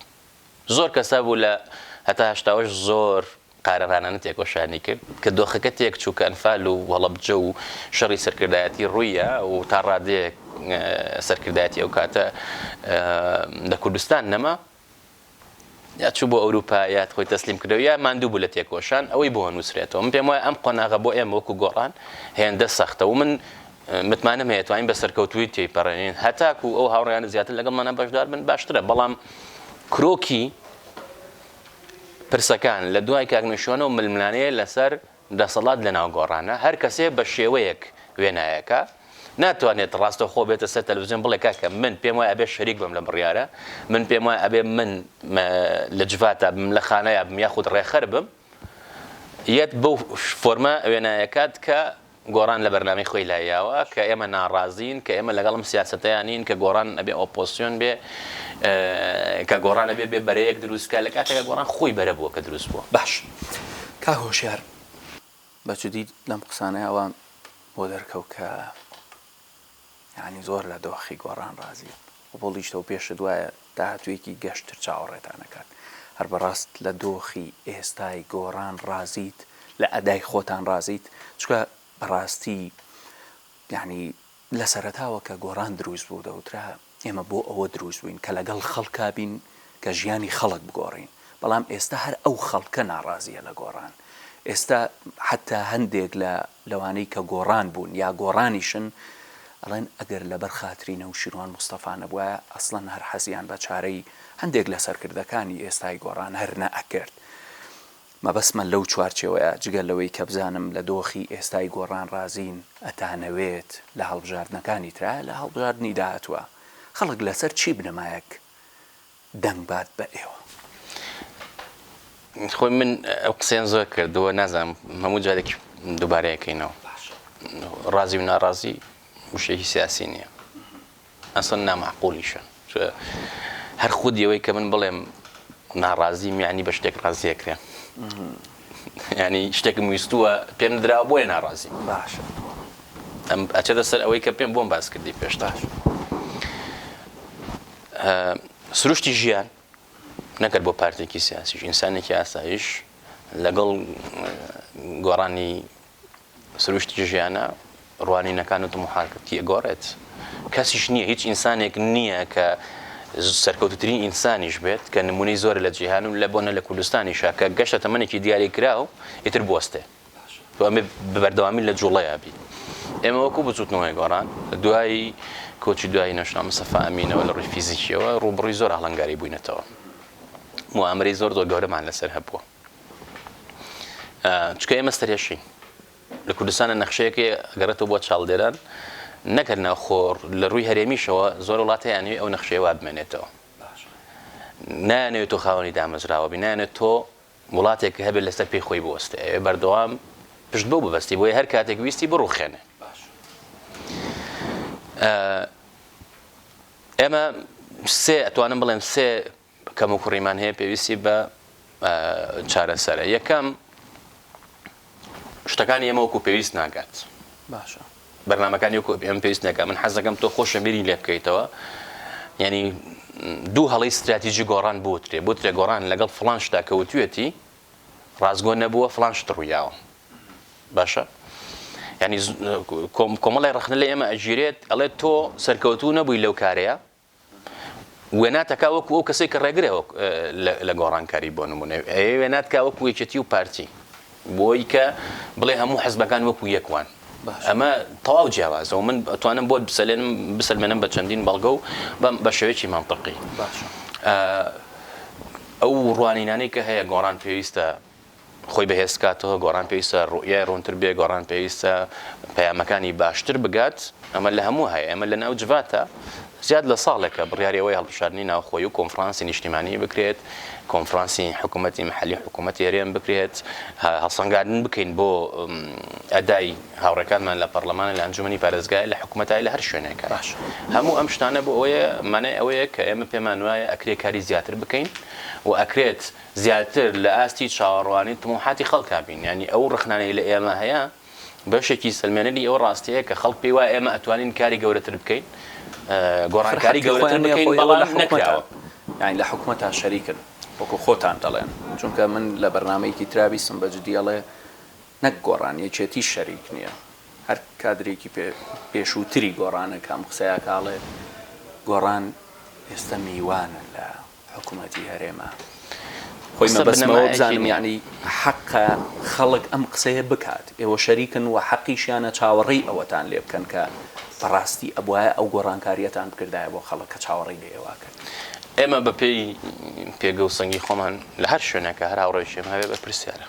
زۆر کەس هەبوو لە هەتا هەشتا و هەشت زۆر قارەمانانە تێکۆشانی کرد کە دۆخەکە تێک چوو کە ئەنفال و هەڵەبجە و شەڕی سەرکردایەتی ڕوویە و تا ڕادەیەک سەرکردایەتی ئەو کاتە لە کوردستان نەما یا چوو بۆ ئەوروپا یا خۆی تەسلیم کردەوە یا ماندوو بوو لە تێکۆشان ئەوەی بۆ نووسرێتەوە من پێم وایە ئەم قۆناغە بۆ ئێمە وەکو گۆڕان هێندە سەختە و من متمانەم هەیە توانین بە سەرکەوتوی تێپەڕێنین هەتاکو ئەو هاوڕیانە زیاتر لەگەڵ منە بەشدار بن باشترە بەڵام کرۆکی پرسەکان لە دوای کاکنشۆنە و ململانەیە لەسەر دەسەڵات لەناو گۆڕانە، هەر کەسێ بە شێوەیەک وێنایەکە، ناتوانێت ڕاستەوخۆ بێتە سەر تەلەفزیۆن بڵێ کاکە من پێم وایە ئەبێ شەریک بم لە بڕیارە، من پێم وایە ئەبێ من لە جڤاتا بم، لە خانایا بم یاخود ڕێخەر بم، یەت بەو فۆرمە وێنایەکات کە گۆڕان لە بەرنامەی خۆی لایاوە، کە ئێمە ناڕازین، کە ئێمە لەگەڵ ئەم سیاسەتەیا نین، کە گۆڕان ئەبێ ئۆپۆسیۆن بێ، کە گۆڕان ئەبێ بێ بەرەیەک دروست کا، لە کاتێکا گۆڕان خۆی بەرە بووە کە دروست بووە. باشە. کاک هۆشیار بەجدی لەم قسانەی ئەوە بۆ دەرکەوت کە یعنی زۆر لە دۆخی گۆڕان ڕازیە قوبڵیشتەوە پێشت وایە داهاتوێکی گەشتر چاوەڕێتانەکات هەر بەڕاست لە دۆخی ئێستای گۆڕان ڕازیت لە ئەدای خۆتان ڕازیت چکە بەڕاستی یعنی لە سەرەتاوە کە گۆڕان دروست بوو دەوترا ئێمە بۆ ئەوە دروست بووین کە لەگەڵ خەڵکا بین کە ژیانی خەڵک بگۆڕین بەڵام ئێستا هەر ئەو خەڵکە ناڕازییە لە گۆڕان ئێستا حەتتا هەندێک لە لەوانەی کە گۆڕان بوون یا گۆڕانیشن ئەڵێن ئەگەر لەبەر خاتری نەوشیروان مستەفا نەبوایە ئەسڵەن هەر حەزیان بە چارەی هەندێک لە سەرکردەکانی ئێستای گۆڕان هەر نەئەکرد. مەبەستمە لەو چوارچێوەیە، جگە لەوەی کە بزانم لە دۆخی ئێستای گۆڕان ڕازین، ئەتانەوێت لە هەڵبژاردنەکانی ترا، لە هەڵبژاردنی داهاتووە خەڵک لەسەر چی بنەمایەک دەنگ بات بە ئێوە؟ خۆی من ئەو قسەیەم زۆر کردووە، نازانم هەموو جارێک دووبارەیەکەینەوە. ڕازی و ناڕازی وشەیەکی سیاسی نییە. ئەسڵەن نامەعقولیشە چۆ هەر خودی ئەوەی کە من بڵێم ناڕازیم یانی بە شتێک ڕازی ئەکرێم یانی شتێکم ویستووە پێم نراوە بۆیە ناڕازیم باشە ئەم ئەچێتە سەر ئەوەی کە پێم بۆم باس کردی پێشتاش سروشتی ژیان نەکرد بۆ پارتێکی سیاسیش ئینسانێکی ئاسایش لەگەڵ گۆڕانی سروشتی ژیانە ڕوانینەکان و تموحاتت تێگۆڕێت، کەسیش نییە هیچ ئینسانێک نییە کە سەرکەوتوترین ئینسانیش بێت کە نمونەی زۆرە لە جیهان و لە بۆنە لە کوردستانیشا کە گەشتە تەمەنێکی دیاری کراو ئیتر بوەستێ و ئەمێ بەبەردەوامی لە جوڵەیا بی. ئێمە وەکو بزوتنەوەی گۆڕان دوای کۆچی دوایی نەشنا مستەفا ئەمینەوە لە ڕووی فیزیکیەوە ڕووبڕووی زۆر ئاڵنگاری بووینەتەوە موامەرەی زۆر زۆر گەورەمان لەسەر هەبووە. چکە ئێمە سەرێشین لە کوردستانە نەخشەیەکێ گەڕێتەوە بۆ چاڵدێران نەکرد ناوخۆڕ لە ڕووی هەرێمیشەوە زۆر وڵاتیانوی ئەو نەخشێوا بمێنێتەوە نانەوێت تۆ خاوەنی دامەزراوە بینانێت تۆ وڵاتێک هەبێت لەسەر پێی خۆی بوەستێ ئەوێ بەردەوام پشت بۆ ببستی بۆیە هەر کاتێک ویستی بڕوخێنێ ئێمە سێ ئەتوانم بڵێم سێ کەموکوڕیمان هەیە پێویستی بە چارەسەرە یەکەم شتەکانی ئێمە وەکو پێویست ناگات باشە بەرنمەکانی وەکو ئەم پێویست نەکە من حەزەکەم تۆ خۆشە بیری لێ بکەیتەوە ینی دوو هەڵی استراتیژی گۆڕان بوترێ بوترێ گۆڕان لەگەڵ فلان شتا کەوتوێتی ڕازگۆ نەبووە فلان شت ڕوویاوە باشە ینی کۆمەڵی ڕخنە لە ئێمە ئەگیرێت ئەڵێت تۆ سەرکەوتو نەبووی لەو کارەیە وێنا تکا وەکو ئەو کەسێک کە ڕێگرە لە گۆڕانکاری بۆ نمونە ئەوێ وێنات کا وەکو یەکێتی و پارتی بۆی کە بڵێ هەموو حەزبەکان وەکو یەکوان ئەمە تەواو جیاوازەوە من ئەتوانم بۆت بسەلێنم بسەلمێنم بە چەندین بەڵگە و بەم بە شێوەیەکی مامپڕقی ئەو ڕوانینانەی کە هەیە گۆڕان پێویستە خۆی بەهێز بکاتەوە، گۆڕان پێویستە ڕوئیای ڕوونتر بێت، گۆڕان پێویستە پەیامەکانی باشتر بگات، ئەمە لە هەموو هەیە، ئێمە لەناو جڤاتە زیاد لە ساڵێکە بڕیاری ئەوەی هەڵبژاردنی ناوخۆیی و کۆنفڕانسی نیشتیمانی بکرێت، کۆنفڕانسی حکوومەتی محەلی و حکوومەتی هەرێم بکرێت، هەڵسەنگاندن بکەین بۆ ئەدای هاوڕێکانمان لە پەڕڵەمانە، لە ئەنجوومەنی پارێزگایە، لە حکوومەتایە، لە هەر شوێنێکە. باشە هەموو ئەم شتانە بۆ ئەوەیە، مانای ئەوەیە کە ئێمە پێمان وایە ئەکرێ کاری زیاتر بکەین و ئەکرێت زیاتر لە ئاستی چاوەڕوانی تموحاتی خەڵکا بین، یانی ئەو ڕەخنانەی لە ئێمە هەیە بەشێکی سەلمێنەری ئەو ڕاستیەیە کە خەڵک پێی وایە ئێمە ئەتوانین کاری گەورەتر بکەین، گۆڕانکاری گەورەتر بکەین، بەڵام نەکراوە. یانی لە حکومەتا شەریکن وەکو خۆتان دەڵێن، چونکە من لە بەرنامەیەکی ترا بیستم بە جدی ئەڵێ نەک گۆڕان یەکێتیش شەریک نیە، هەر کادرێکی پێشووتری گۆڕانە کە ئەم قسەیاکا ئەڵێ گۆڕان ئێستا میوانە لە. حکومەتی هەرێمە خۆی مەبەستمەوە بزانم یەعنی حەقە خەڵک ئەم قسەیە بکات ئێوە شەریکن و حەقیشیانە چاوەڕێی ئەوەتان لێ بکەن کە بەڕاستی ئەبوایە ئەو گۆڕانکاریەتان بکردایە بۆ خەڵک کە چاوەڕێی لە ئێوە کرد ئێمە بە پێی پێگە و سەنگی خۆمان لە هەر شوێنەکە هەر هاوڕێکی ئێمە هەبێ بەرپرسیارە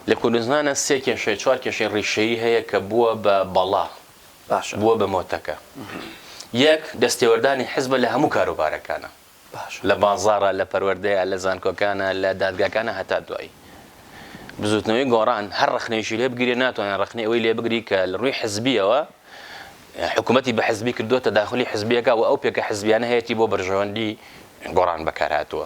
لە کوردستانە سێ کێشەی چوار کێشەی ڕیشەیی هەیە کە بووە بە بەڵا باشە. بووە بە مۆتەکە. یەک، دەستێوەردانی حزبە لە هەموو کاروبارەکانا. باشە. لە بازاڕا، لە پەروەردەیە، لە زانکۆکانا، لە دادگاکانا هەتا دوایی. بزووتنەوەی گۆڕان هەر ڕەخنەیەکی لێ بگیرێ ناتوانێ ڕەخنەی ئەوەی لێ بگری کە لە ڕووی حزبییەوە حکوومەتی بە حزبی کردووە، تەداخولی حزبی ئەکا و ئەو پێکە حزبییانە هەیەتی بۆ بەرژەوەندی گۆڕان بەکار هاتووە.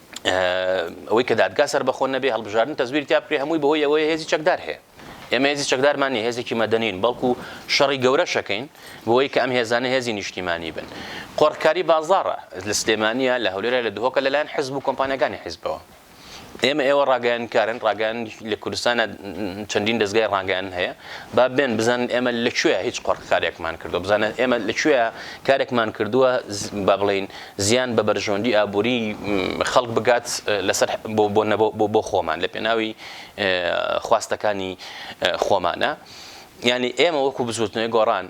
ئەوەی کە دادگا سەربەخۆ نەبێ هەڵبژاردن تەزویر تیا بکرێ هەمووی بەهۆی ئەوەیە هێزی چەکدار هەیە ئێمە هێزی چەکدارمان نیە هێزێکی مەدەنین بەڵکو شەڕی گەورە شەکەین بۆی کە ئەم هێزانە هێزی نیشتیمانی بن قۆڕکاری بازارە لە سلێمانە لە هەولێرە لە دهۆکە لەلایەن حزب و کۆمپانیەکانی حیزبەوە ئێمە ئێوە ڕاگەیانکارن ڕاگەیان لە کوردستانە چەندین دەستگای ڕاگەیان هەیە با بێن بزانن ئێمە لەکوێ هیچ قۆڕکارێکمان کردو بزانن ئێمە لەکوێ کارێکمان کردووە با بڵین زیان بە بەرژەوەندی ئابووری خەڵک بگات لەسەر بۆ خۆمان لە پێناوی خواستەکانی خۆمانە یعنی ئێمە وەکو بزوتنەوەی گۆڕان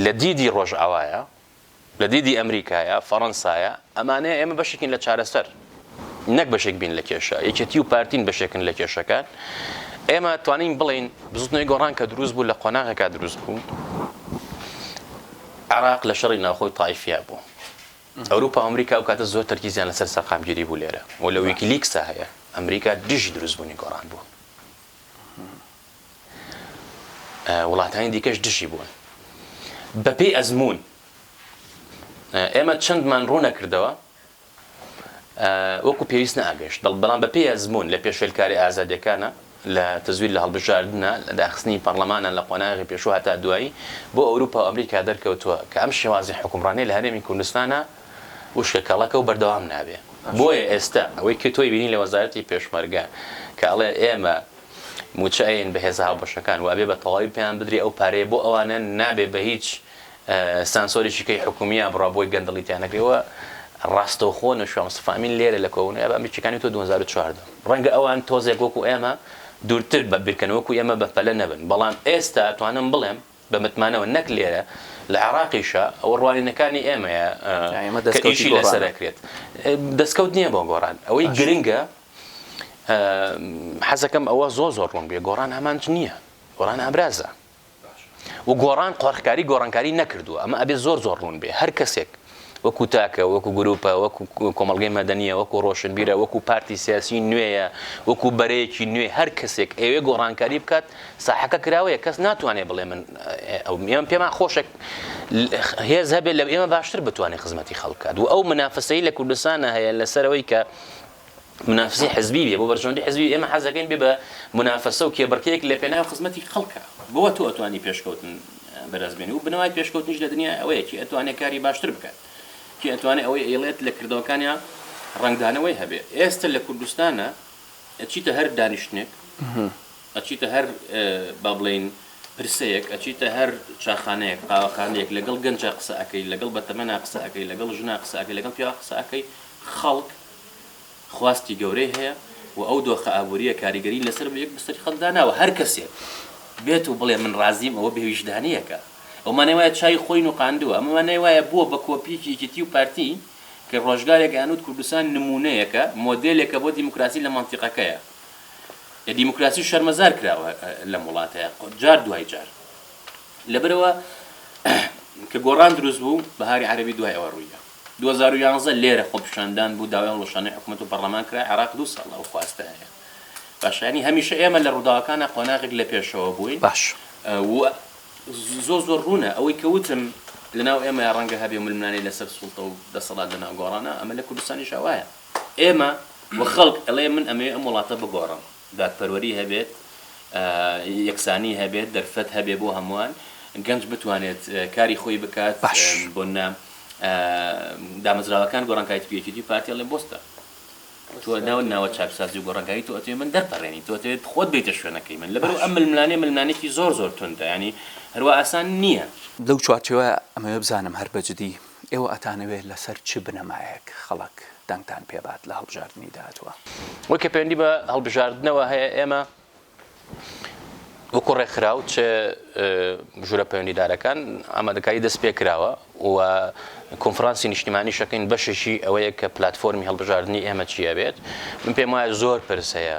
لە دیدی ڕۆژئاوایە لە دیدی ئەمریکایە فەڕەنسایە ئەمانەیە ئێمە بەشێکین لە چارەسەر نەک بەشێک بین لە کێشە یەکێتی و پارتین بەشێکن لە کێشەکان ئێمە توانین بڵین بزوتنەوەی گۆڕان کە دروست بوو لە قۆناغەکە دروست بوو عراق لە شەڕی ناوخۆی تایفیا بوو ئەوروپا ئەمریکا و کاتە زۆر تەرکیزیان لەسەر سەقامگیری بوو لێرە و لە ویکلیکسا هەیە ئەمریکا دژی دروستبوونی گۆڕان بوو وڵاتانی دیکەش دژی بوون بەپێی ئەزمون ئێمە چەندمان ڕوونە کردەوە وەکو پێویست نەئاگەیشت، بەڵام بەپێی ئەزموون لە پێشێلکاریە ئازادیەکانە، لە تەزویر، لە هەڵبژاردنە، لە داخستنی پەڕلەمانە لە قۆناغی پێشوو هەتا دوایی، بۆ ئەوروپا و ئەمریکا دەرکەوتووە کە ئەم شێوازی حوکمڕانیە لە هەرێمی کوردستانا وشکە کەڵەکە و بەردەوام نابێ. بۆیە ئێستا ئەوەی کە تۆی بینی لە وەزارەتی پێشمەرگە کە ئەڵێ ئێمە موچە ئەیەین بە هێزە هاوبەشەکان و ئەبێ بە تەواوی پێیان بدرێ ئەو پارەیە بۆ ئەوانە نابێ بە هیچ سانسۆرێکی کەی حکومییە بڕا بۆی گەندەڵی تیا نەکرێ و ڕاستەوخۆ نەشوا مستەفا ئەمین لێرە لە کۆبوونەوەی ئابا ئەمریکییەکانی تۆ دوو هەزار و چواردە ڕەنگە ئەوان تۆزێک وەکوو ئێمە دوورتر بە بیرکەن وەکوو ئێمە بە پەلە نەبن بەڵام ئێستا ئەتوانم بڵێم بە متمانەوە نەک لێرە لە عێڕاقیشا ئەوە ڕوانینەکانی ئێمەیە کە ئیشی لەسەر ئەکرێت دەسکەوت نییە بۆ گۆڕان ئەوەی گرنگە حەزەکەم ئەوە زۆر زۆر ڕوون بێ گۆڕان ئامانج نییە گۆڕان ئامرازە. و گۆڕان قۆرخکاری گۆڕانکاری نەکردووە ئەمە ئەبێ زۆر زۆر ڕوون بێ هەر کەسێک وەکو تاکە وەکو گروپە وەکو کۆمەلگەی مەدەنیە وەکو ڕۆشنبیرە وەکو پارتی سیاسی نوێیە وەکو بەرەیەکی نوێ هەر کەسێک ئەوێ گۆڕانکاری بکات ساحەکە کراوەیە کەس ناتوانێت بڵێ من ئەو ئێمە پێمان خۆشێک هێز هەبێت لە ئێمە باشتر بتوانێت خزمەتی خەڵکات و ئەو منافسەی لە کوردستانە هەیە لەسەرەوەی کە منافسی حزبی بێ بۆ بەرژەوەندی حزبی ئێمە حەزەکەین بێ بە منافسە و کێبڕکێک لە پێناو خزمەتی خەڵکە بەوە تۆ ئەتوانی پێشکەوتن بەرەزبێنی و بنەوای پێشکەوتنیش لە دنیا ئەوەیە کی ئەتوانێت کاری باشتر بکات کی ئەتوانێت ئەوەی ئەیڵێت لە کردەوەکانیا ڕنگدانەوەی هەبێت ئێستا لە کوردستانە ئەچیتە هەر دانیشتنێک ئەچیتە هەر با بڵێین پرسەیەک، ئەچیتە هەر چاخانەیەک، قاوەخانەیەک، لەگەڵ گەنجا قسە ئەکەی، لەگەڵ بەتەمەنا قسە ئەکەی، لەگەڵ ژنا قسە ئەکەی، لەگەڵ پیاوا قسە ئەکەی، خەڵک خواستی گەورەی هەیە و ئەو دۆخە ئابوورییە کاریگەری لەسەر یەک بستەری خەڵک داناوە، هەر کەسێک بێت و بڵێ من ڕازیم ئەوە بێ ویژدانییەکە، ئەوە مانای وایە چاوی خۆی نوقاندووە، ئەمە مانای وایە بووە بە کۆپییەکی یەکێتی و پارتی کە ڕۆژگارێک ئەیانوت کوردستان نموونەیەکە، مۆدێلێکە بۆ دیموکراسی لە مەنتیقەکەیە. لە دیموکراسی شەرمەزار کراوە لەم وڵاتە جار دوای جار لەبەرەوە کە گۆڕان دروست بوو بەهاری عەربی دوای ئەوە ڕوویدا 2011 لێرە خۆپیشاندان بوو داوای هەڵوشانی حکوومەت و پەرلەمان کرا عێراق دو ساڵ ئەو خواستە هەیە باشانی هەمیشە ئێمە لە ڕووداوەکانە قۆناغێک لە پێشەوە بووین باش زۆ زۆر ڕوونە ئەوەی کەوتم لەناو ئێمە ڕەنگە هەبێ ململانەی لەسەر سوڵتە و دەسەڵات لەناو گۆڕانە ئەمە لە کوردستانیش هەوایە ئێمە وە خەڵک ئەڵێ من ئەمەوێ ئەم وڵاتە بگۆڕم دادپەروەری هەبێت یەکسانی هەبێت دەرفەت هەبێ بۆ هەمووان گەنج بتوانێت کاری خۆی بکات بۆ نە دامەزراوەکان گۆڕانکایت پێکیتی پارتی ئەڵێ بۆستە تۆ ناو ناوە چاکسازی و گۆڕانگایی تۆ ئەتێ من دەرپەڕێنی تۆ تێت خۆت بیتە شوێنەکەی من لەبەر ئەم ململانێ ململانێکی زۆر زۆر توندا ینی هەروە ئاسان نییە. لەو چوارچێوە ئەمەوێ بزانم هەر بەجدی ئێوە ئەتانەوێت لەسەر چ بنەمایەک خەڵک دەنگتان پێبات لە هەڵبژاردنی داهاتووە؟ ئەوەی کە پەیوەندی بە هەڵبژاردنەوە هەیە، ئێمە وەکو ڕێکخراو چ ژوورە پەیوەندیدارەکان ئامادەکاری دەست پێ کراوە و کۆنفرانسی نیشتیمانیش دەکەین، بەشێکی ئەوەیە کە پلاتفۆرمی هەڵبژاردنی ئێمە چی ئەبێت، من پێم وایە زۆر پرس هەیە،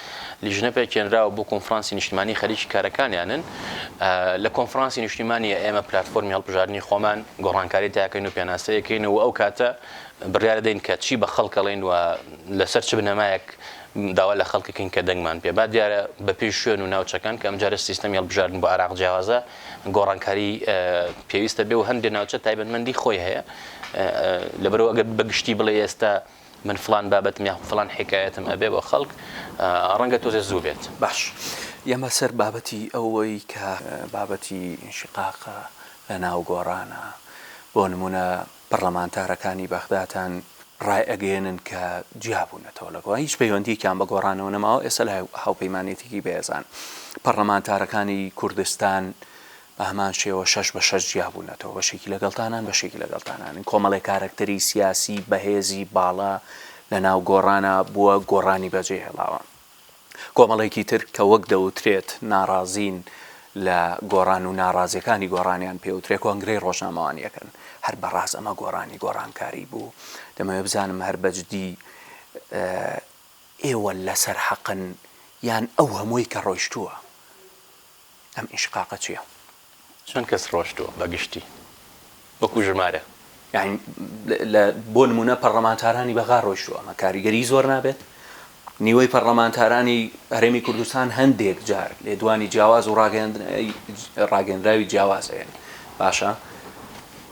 لیژنە پێکهێنراوە بۆ کۆنفرانسی نیشتمانی خەریکی کارەکانیانن لە کۆنفرانسی نیشتیمانی ئێمە پلتفۆرمی هەڵبژاردننی خۆمان گۆڕانکاری تاکەین و پێناسەیەکەین و ئەو کاتە بڕیارە دەین کە چی بە خەڵکەڵین و لەسەر چ بنەمایەک داوا لە خەڵکەکەین کە دەنگمان پێ با دیارە بەپی شوێن و ناوچەکان کە ئەمجارە سیستەمی هەڵبژاردن بۆ عراق جیاوازە گۆڕانکاری پێویستە بێ و هەندێ ناوچە تایبەتمەندی خۆی هەیە لەبەرەوە ئەگەر بەگشتی بڵێ ئێستا من فڵان بابەتم یاخود فڵان حیکایەتم ئەبێ بۆ خەڵک ڕەنگە تۆزێ زوو بێت. باش یەمە سەر بابەتی ئەوەی کە بابەتی ئینشیقاقە لە ناو گۆڕانە بۆ نموونە پەڕڵەمانتارەکانی بەغداتان ڕای ئەگەیەنن کە جیا بوونەتەوە لە گۆڕان هیچ پەیوەندیەکیان بە گۆڕانەوە نەماوە ئێستا لە هاوپەیمانێتیی بەێزان پەڕڵەمانتارەکانی کوردستان بە هەمان شێوە شەش بە شەش جیا بوونەتەوە، بەشێکی لەگەڵ تانان، بەشێکی لەگەڵ تانانن. کۆمەڵێ کارەکتەری سیاسی بەهێزی باڵا لە ناو گۆڕانا بووە، گۆڕانی بەجێ هێڵاوە. کۆمەڵێکی تر کە وەک دەوترێت ناڕازین لە گۆڕان و ناڕازیەکانی گۆڕانیان پێ وترێ کۆنگرەی ڕۆژنامەوانیەکەن. هەر بە ڕاست ئەمە گۆڕانی گۆڕانکاری بوو؟ دەمەوێ بزانم هەر بە جدی ئێوە لە سەر حەقن یان ئەو هەمووی کە ڕۆیشتووە؟ ئەم ئینشقاقە چیە؟ چەند کەس ڕۆشتووە بە گشتی وەکو ژمارە؟ یانی لە بۆ نمونە پەڕلەمانتارانی بەغا ڕۆیشتوە ئەمە کاریگەری زۆر نابێت نیوەی پەڕلەمانتارانی هەرێمی کوردستان هەندێک جار لێدوانی جیاواز و ڕاگەندراوی جیاواز هەیەن باشە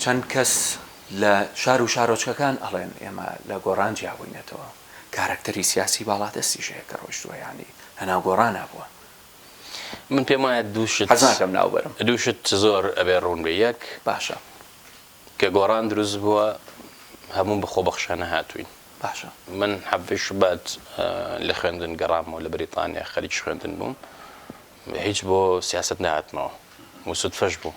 چەند کەس لە شار و شارۆچکەکان ئەڵێن ئێمە لە گۆڕان جیابووینەتەوە کارەکتەری سیاسی باڵادەستی ژەیە کە ڕۆشتووە ینی هەناو گۆڕان نبووە من پێم وایە دوو شت حەز ناکەم ناو بەرم. دوو شت زۆر ئەبێ ڕوون بێ یەک باشە. کە گۆڕان دروست بووە هەموو بە خۆبەخشانە هاتووین باشە. من حەڤی شوبات لە خوێندن گەڕامەوە لە بەریتانیا خەریکی خوێندن بووم هیچ بۆ سیاسەت نەهاتمەوە و سوتفەش بوو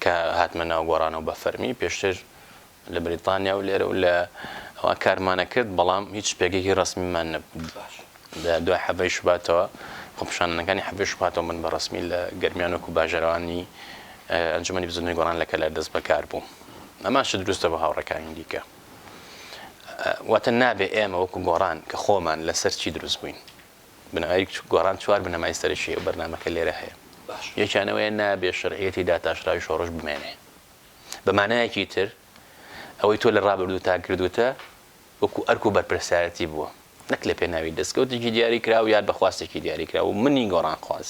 کە هاتمە ناو گۆڕانەوە بە فەرمی پێشتر لە بریتانیا و لێرە و لە ئەوە کارمانە کرد بەڵام هیچ پێگەیەکی ڕسمیمان نەبوو باش لە دوای حەڤەی شوباتەوە خۆپشانەکانی حەڤی شوباتەوە من بە ڕسمی لە گەرمیان وەکو باژەرەوانی ئەنجومی بزنی گۆڕان لە کەلار دەست بەکار بووم ئەماش دروستە بە هاوڕەکانی دیکە واتە نابێ ئێمە وەکو گۆڕان کە خۆمان لەسەر چی دروست بووین بنەمای گۆڕان چوار بنەمای سەرەکی هەیە و بەرنامەکە لێرە هەیە. یەکیان ئەوەیە نابێت شەرعیەتی داتاشراوی شۆڕش بمێنێ. بە مانایەکی تر ئەوەی تۆ لە ڕابردووتا کردوتە وەکو ئەرک و بەرپرسایەتی بووە نەک لە پێناوی دەستکەوتێکی دیاریکراو یان بە خواستێکی دیاریکراو و منی گۆڕانخواز.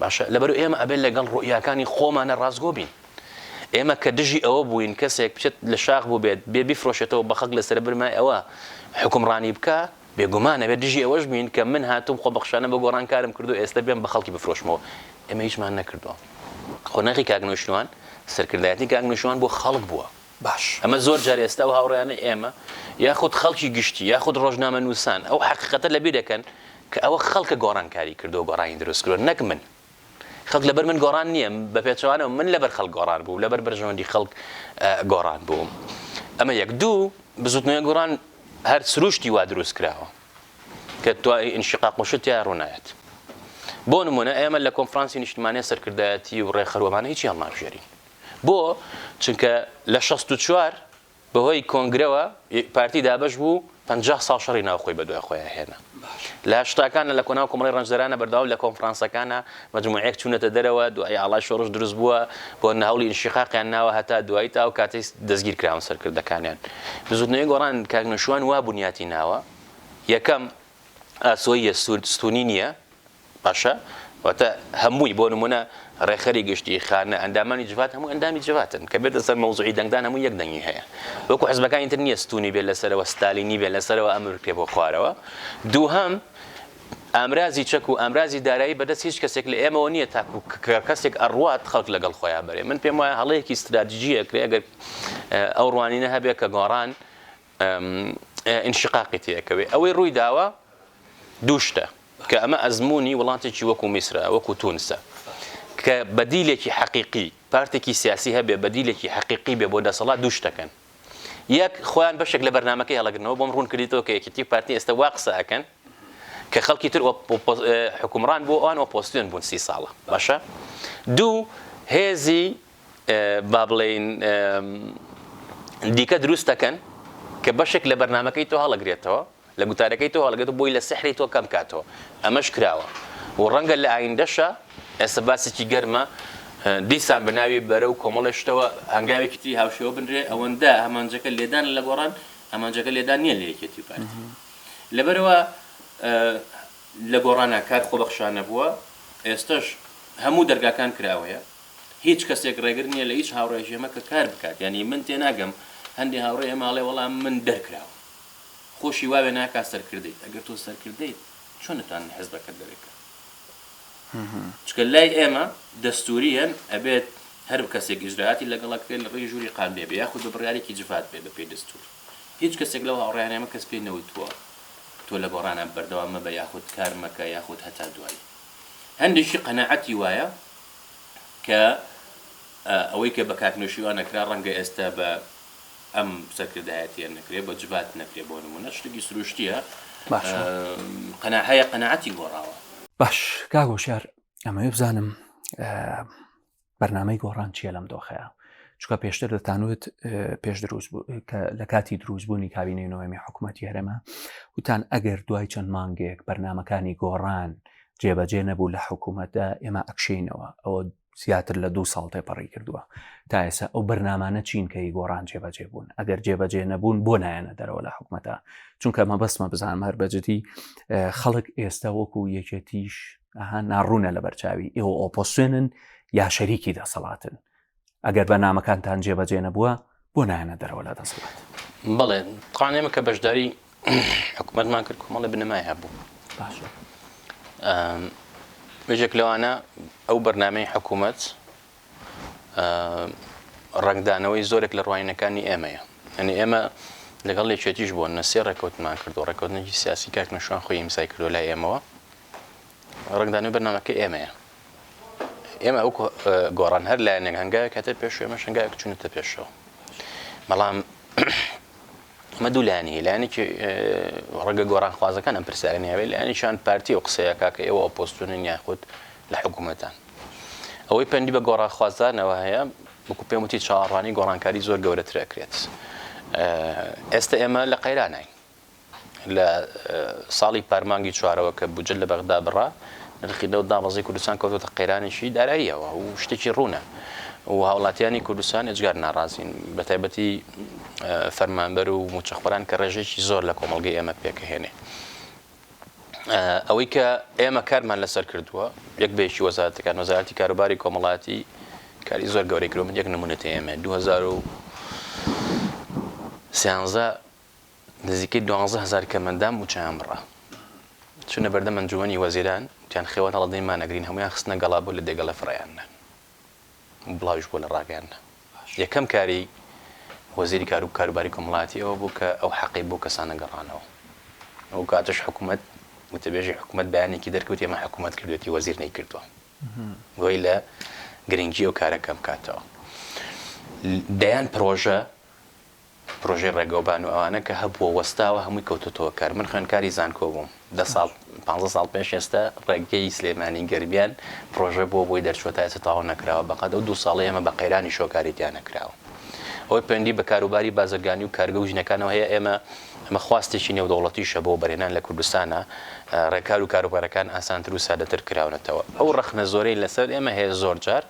باشە لەبەر ئێمە ئەبێت لەگەڵ ڕوئیاکانی خۆمانە ڕاستگۆ بین ئێمە کە دژی ئەوە بووین کەسێک بچێت لە شاخ بوو بێت بێ بیفرۆشێتەوە بە خەک لەسەر برمای ئەوە حکومڕانی بکە بێگومانە بێت دژی ئەوەش بین کە من هاتوم خۆ بەخشانە بە گۆڕان کارم کردو ئێستا بێم بە خەڵکی بفرۆشمەوە ئێمە هیچمان نەکردووە قۆناغی کاک نوشتوان سەرکردایەتی کاک نوشتوان بۆ خەڵک بووە باش. ئەمە زۆر جار ئێستا ئەو هاوڕێیانەی ئێمە یاخود خەڵکی گشتی یاخود ڕۆژنامەنووسان ئەو حەقیقەتە لەبیر دەکەن کە ئەوە خەڵکە گۆڕانکاری کردووە گۆڕانی دروست کردووە نەک من. خەڵک لەبەر من گۆڕان نییە، بە پێچەوانەوە من لەبەر خەڵک گۆڕان بووم، لەبەر بەرژەوەندی خەڵک گۆڕان بووم. ئەمە یەک. دوو، بزووتنەوەی گۆڕان هەر سرووشتی وا دروست کراوە کە تواء انشقاق و شت تیا ڕوو نایەت. بۆ نموونە ئێمە لە کۆنفرانسی نیشتمانی سەرکردایەتی و ڕێکخەر و ئەمانە هیچی هەڵنابژێرین. بۆ؟ چونکە لە شەست و چوار بەهۆی کۆنگرەوە پارتی دابەش بوو و پەنجا ساڵ شەڕی ناوخۆی بەدوای خۆیان هێنا. لە هەشتاکانە لە کۆناو کۆمەڵی ڕەنجدەرانە بەردەوام لە کۆنفرانسەکانە مەجموعەیەک چوونەتە دەرەوە، دوایی ئاڵای شۆڕش دروست بووە، بۆنە هەوڵی ئینشیقاقیان ناوە هەتا دوایی تا ئەو کاتەی دەستگیر کراون سەرکردەکانیان. بزووتنەوەی گۆڕان کاک نەوشیروان وا بنیاتی ناوە، یەکەم، ئاسۆییە ستوونی نییە، باشە واتە هەمووی بۆ نمونە ڕێکخەری گشتی خانە ئەندامانی جڤات هەموو ئەندامی جڤاتن کە بێتە سەر مەوزعی دەنگدان هەموو یەک دەنگی هەیە وەکو حزبەکانی تر نییە ستونی بێت لەسەرەوە ستالینی بێت لەسەرەوە ئەمر پێ بۆ خوارەوە دووهەم ئامرازی چەک و ئامرازی دارایی بەدەست هیچ کەسێک لە ئێمەوە نییە تاکو کەسێک ئەڕوات خەڵک لەگەڵ خۆیان بەرێ من پێم وایە هەڵەیەکی استراتیژیە کرێ گەر ئەو ڕوانینە هەبێت کە گۆڕان ئینشیقاقی تێ ئەکەوێ ئەوەی ڕووی داوە دوو شتە کە ئەمە ئەزمموی وڵاتێکی وەکو میسرە وەکو تونسە کە بەدیلێکی حەقیقی پارتێکی سیاسی هەبێ بەدیلێکی حەقیقی بێ بۆ دەسەڵات دوو شتەکەن یەک خۆیان بەشێک لە بەرنمەکە هەڵگرنەوە بۆم ڕوون کردیتەوە کە یەکێتی پارتی ئێستا وا قسەکەن کە خەڵکی تر حکومڕان بۆ ئەوان ئۆپۆسیۆن بوون سی ساڵە باشە دوو هێزی با بڵێین دیکە دروست دەکەن کە بەشێک لە بەرنمەکەی تۆ هەڵەگرێتەوە لە گوتارەکەی تۆ هەڵگەێت بۆی لە سحری تۆ کەم کاتەوە ئەمەش کراوە و ڕەنگە لە ئایندەشە ئێستا باسێکی گەرمە دیسان بەناوی بەرە و کۆمەڵی شتەوە هەنگاوێکی تری هاوشێوە بنرێ ئەوەندە ئەمانجەکە لێدان لە گۆڕان ئەمانجەکە لێدان نییە لە یەکێتی پارتی لەبەرەوە لە گۆڕانە کار خۆبەخشانە بووە ئێستش هەموو دەرگاکان کراوەیە هیچ کەسێک ڕێگر نییە لە هیچ هاوڕێیەکی ئێمە کە کار بکات یانی من تێناگەم هەندێ هاوڕێ ئێمە ئەڵێ وەڵا من دەرکراوم خۆشی واوێ ناکا سەرکردەیت ئەگەر تۆ سەرکردەیت چۆن نتوان لە حزبەکەت دەرێ بکەن چکە لای ئێمە دەستوریەن ئەبێت هەر کەسێک ئیجراعاتی لەگەڵک بێت لە ڕێی ژووری قان بێ بێ یاخود بە بڕیارێکی جڤات بێ بە پێی دەستور هیچ کەسێک لەو هاوڕیان ئێمە کەس پێی نەوتووە تۆ لە گۆڕانە بەردەوام مەبە یاخود کار مەکە یاخود هەتا دوایی هەندێکی قەنەعەتی وایە کە ئەوەی کە بە کاک نەوشیروان ئەکرا ڕەنگە ئێستا بە ئەم سەرکردایەتیە نەکرێ بە جڤات نەکرێ بۆ نمونە شتێکی سروشتیە باشە قەنا هەیە قەناعەتی گۆڕاوە. باش کاک هۆشیار ئەمەوێ بزانم بەرنامەی گۆڕان چیە لەم دۆخەیە چکە پێشتر دەتانوت پێش دروست لە کاتی دروستبوونی کابینەی نوێمی حکوومەتتی هەرێمە وتان ئەگەر دوای چەند مانگێک بەرنمەکانی گۆڕان جێبەجێ نەبوو لە حکوومەتدا ئێمە ئەکشینەوە ئەوە زیاتر لە دوو ساڵ تێپەڕی کردووە تا ئێسا ئەو بەرنمانە چین کە ی گۆڕان جێبەجێ بوون ئەگەر جێبەجێ نەبوون بۆ نایەنە دەرەوە لە حکوومەتە چونکە مە بەسمە بزانم هەر بەجددی خەڵک ئێستا وەکو یەکێتیش ئەها ناڕوونە لە بەرچاوی ئێوە ئۆپۆسێنن یا شەریکی دەسەڵاتن ئەگەر بە نامەکانتان جێبەجێ نەبووە بۆ نایەنە دەرەوە لە دەسەڵات بڵێ قانێمە کە بەشداری حکوومەتمان کرد کۆمەڵی بنەمای هەبوو باش بەژێک لەوانە ئەو بەرنمەی حکوومەت ڕنگدانەوەی زۆرێک لە ڕوانینەکانی ئێمەیە ئەنی ئێمە لەگەڵ لێچێتیش بۆ نەسێ ڕێکوتمان کردو ڕێکوتنێکی سیاسی کاک نەشوان خۆی ئیمسای کردو لای ئێمەوە ڕنگدانەوەی بەرنمەکە ئێمەیە ئێمە ئەو گۆڕان هەر لایەنێک هەنگاوێک کەتە پێش ئێمە شنگاوێک چونتە پێشەوە بەڵام مە دوو لایەنی لایەنێکی ڕەگە گۆڕان خوازەکان ئەم پرسیارنیاوێ لایەنیشان پارتی و قسەیەکە کە ئێوە ئۆپۆستونن یاخود لە حکوومەتان ئەوەی پەندی بە گۆڕان خوازدانەوە هەیە وەکو پێم وتی چاڕانی گۆڕانکاری زۆر گەورەترەکرێت ئێستا ئێمە لە قەیرانین لە ساڵی پار مانگی چوارەوە کە بودجە لە بەغدا بڕا، نرخی نەوت دابەزی، کوردستان کەوتۆتە قەیرانێکی داراییەوە و شتێکی ڕوونە و هاوڵاتیانی کوردستان ئێجگار ناڕازین، بە تایبەتی فەرمانبەر و موچەخۆران کە ڕێژەیەکی زۆر لە کۆمەڵگەی ئێمە پێکەهێنێ. ئەوەی کە ئێمە کارمان لەسەر کردووە یەک بە یەکی وەزارەتەکان، وەزارەتی کاروباری کۆمەڵایەتی کاری زۆر گەورەی کردووە، من یەک نموونەت ئێمێ دوو هەزار و سیانزە نزیکەی دوانزە هەزار کەمەندان مووچەیان بڕا، چوونە بەردەم ئەنجوومەنی وەزیران، وتیان خێوەت هەڵە دەیمان نەگرین، هەموویان خستنە گەڵا بۆ لە دێگەڵە فرەیاندنان و بڵاویش بووە لە ڕاگەیاندنە. یەکەم کاری وەزیری کار و کاروباری کۆمەڵایەتی ئەوە بوو کە ئەو حەقەی بەو کەسانە گەڕانەوە. ئەو کاتەش حکوومەت، وتەبێژی حکوومەت بەیانێکی دەرکەوت ئێمە حکوومەت کردووەتی وەزیر نەیکردووە. گوی لە گرنگی ئەو کارە کەم کاتەوە. دەیان پڕۆژە پرۆژەی ڕێگەوبان و ئەوانە کە هەبووە وەستاوە هەمووی کەوتۆتەوە کار من خوێندکاری زانکۆ بووم دە ساڵ پانزە ساڵ پێش ئێستا ڕێگەی سلێمانی گەرمیان پرۆژە بۆ بۆی دەرچووە تا ئێستا تەواو نەکراوە بەقەد ئەو دوو ساڵەی ئێمە بە قەیرانی شۆ کاری تیا نەکراوە ئەوەی پەیوەندی بە کاروباری بازرگانی و کارگە و ژنەکانەوە هەیە ئێمە ئەمە خواستێکی نێودەوڵەتیشە بۆ بەرهێنان لە کوردستانە ڕێکار و کاروبارەکان ئاسانتر و سادەتر کراونەتەوە ئەو ڕەخنە زۆرەی لەسەر ئێمە هەیە زۆر جار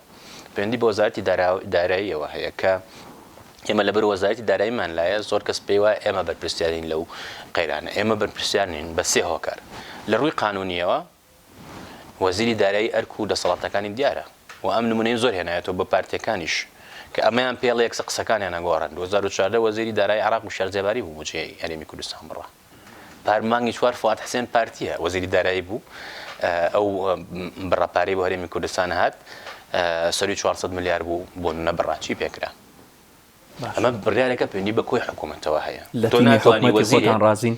پەیوەندی بە وەزارەتی داراییەوە هەیە کە ئێمە لەبەر وەزارەتی داراییمان لایە، زۆر کەس پێی وایە ئێمە بەرپرسیارین لەو قەیرانە. ئێمە بەرپرسیار نین بە سێ هۆکار. لە ڕووی قانوونییەوە وەزیری دارایی ئەرک و دەسەڵاتەکانی دیارە و ئەم نموونەیم زۆر هێنایەتەوە بە پارتییەکانیش کە ئەمەیان پێڵێکسە قسەکانیان ئەگۆڕن. دوو هەزار و چواردە وەزیری دارایی عێراق وشیار زێباری بوو بودجەی هەرێمی کوردستان بڕا. پار مانگی چوار فواد حسێن پارتییە وەزیری دارایی بوو ئەو بڕە پارەی بۆ هەرێمی کوردستان هات سەری 400 ملیار بوو بۆ نە بڕا چی پێکرا ئەمە بڕارێکە پێنی بە کۆی حکوومەتەوە هەیە لە تۆ ناتوانانی وەزیران ڕازین